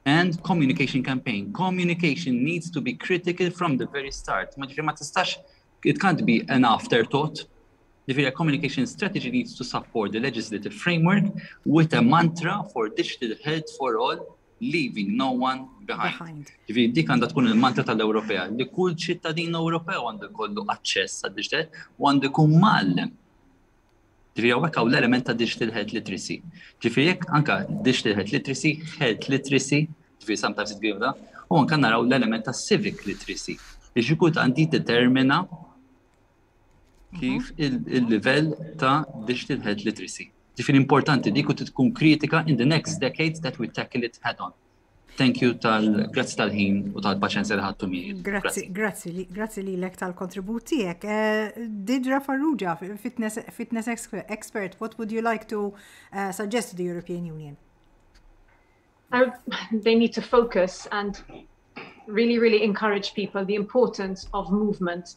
and communication campaign. Communication needs to be critical from the very start. Ma ġifieri ma tistax It can't be an afterthought. Ġifieri a communication strategy needs to support the legislative framework with a mantra for digital health for all leaving no one behind. Ġifieri dik għandha tkun il-mantra tal-Ewropea li kull ċittadin Ewropew għandu jkollu aċċess għad-digital u għandu jkun mgħallem Ġifieri hawnhekk hawn l-element ta' digital health literacy. Ġifieri jekk anke digital health literacy, health literacy, ġifieri sometimes it give da, u anke naraw l-element ta' civic literacy li xi kultant jiddetermina kif il-livell ta' digital health literacy. Ġifieri importanti li jkun tkun kritika in the next decades that we tackle it head on. Thank you tal grazzi tal-ħin u tal-paċenzja li ħadtu miegħi. Grazzi, grazzi, grazzi li lek tal-kontribut tiegħek. Eh, Didra Farrugia, fitness, fitness expert, what would you like to uh, suggest to the European Union? Uh, they need to focus and really, really encourage people the importance of movement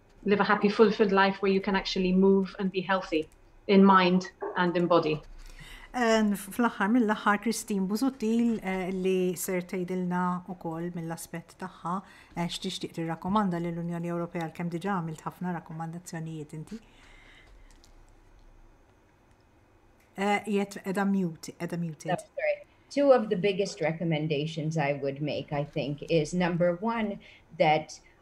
live a happy fulfilled life where you can actually move and be healthy in mind and in body. Fl-aħħar mill-aħħar Christine Busuttil eh, li ser tgħidilna wkoll mill-aspett tagħha eh, x'tixtieq tirrakkomanda lill unjoni Ewropea għal kemm diġà għamilt ħafna rakkomandazzjonijiet inti. Eh, jett edha mute, edha muted. Oh, Two of the biggest recommendations I would make, I think, is number one, that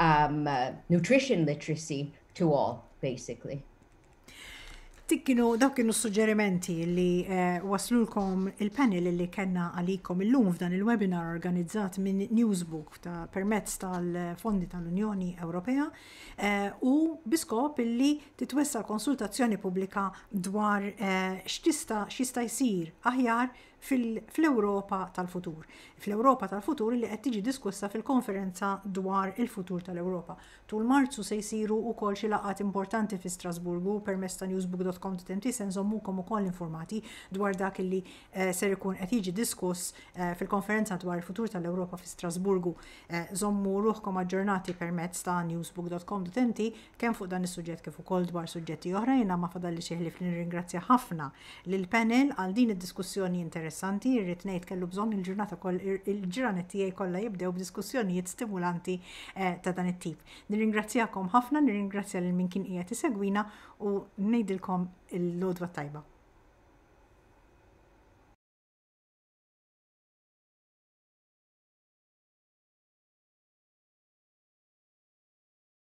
um, nutrition literacy to all, basically. Dik kienu dawk kienu suġġerimenti li eh, waslulkom il-panel li kellna għalikom illum f'dan il-webinar organizzat minn Newsbook ta' permezz tal-fondi tal-Unjoni Ewropea eh, u biskop illi titwessa konsultazzjoni pubblika dwar eh, x'tista' x'jista' jsir aħjar fl-Ewropa tal-futur. Fl-Ewropa tal-futur li qed tiġi diskussa fil-Konferenza dwar il-Futur tal-Ewropa. Tul Marzu se jsiru wkoll xi laqgħat importanti fi Strasburgu u permezz ta' newsbook.com.mt se nżommukom ukoll informati dwar dak li ser ikun qed jiġi diskuss fil-Konferenza dwar il-Futur tal-Ewropa fi Strasburgu. Żommu ruħkom aġġornati permezz ta' newsbook.com.mt Kemm fuq dan is-suġġett kif ukoll dwar suġġetti oħra jiena ma fadalli xi ħlief li nirringrazzja ħafna lill-panel għal din id-diskussjoni interessanti, irrid ngħid kellu bżonn il-ġurnata koll il-ġranet tiegħi kollha jibdew b'diskussjonijiet stimulanti eh, ta' dan it-tip. Nirringrazzjakom ħafna, nirringrazzja lil min kien qiegħed isegwina u ngħidilkom il-lodwa tajba.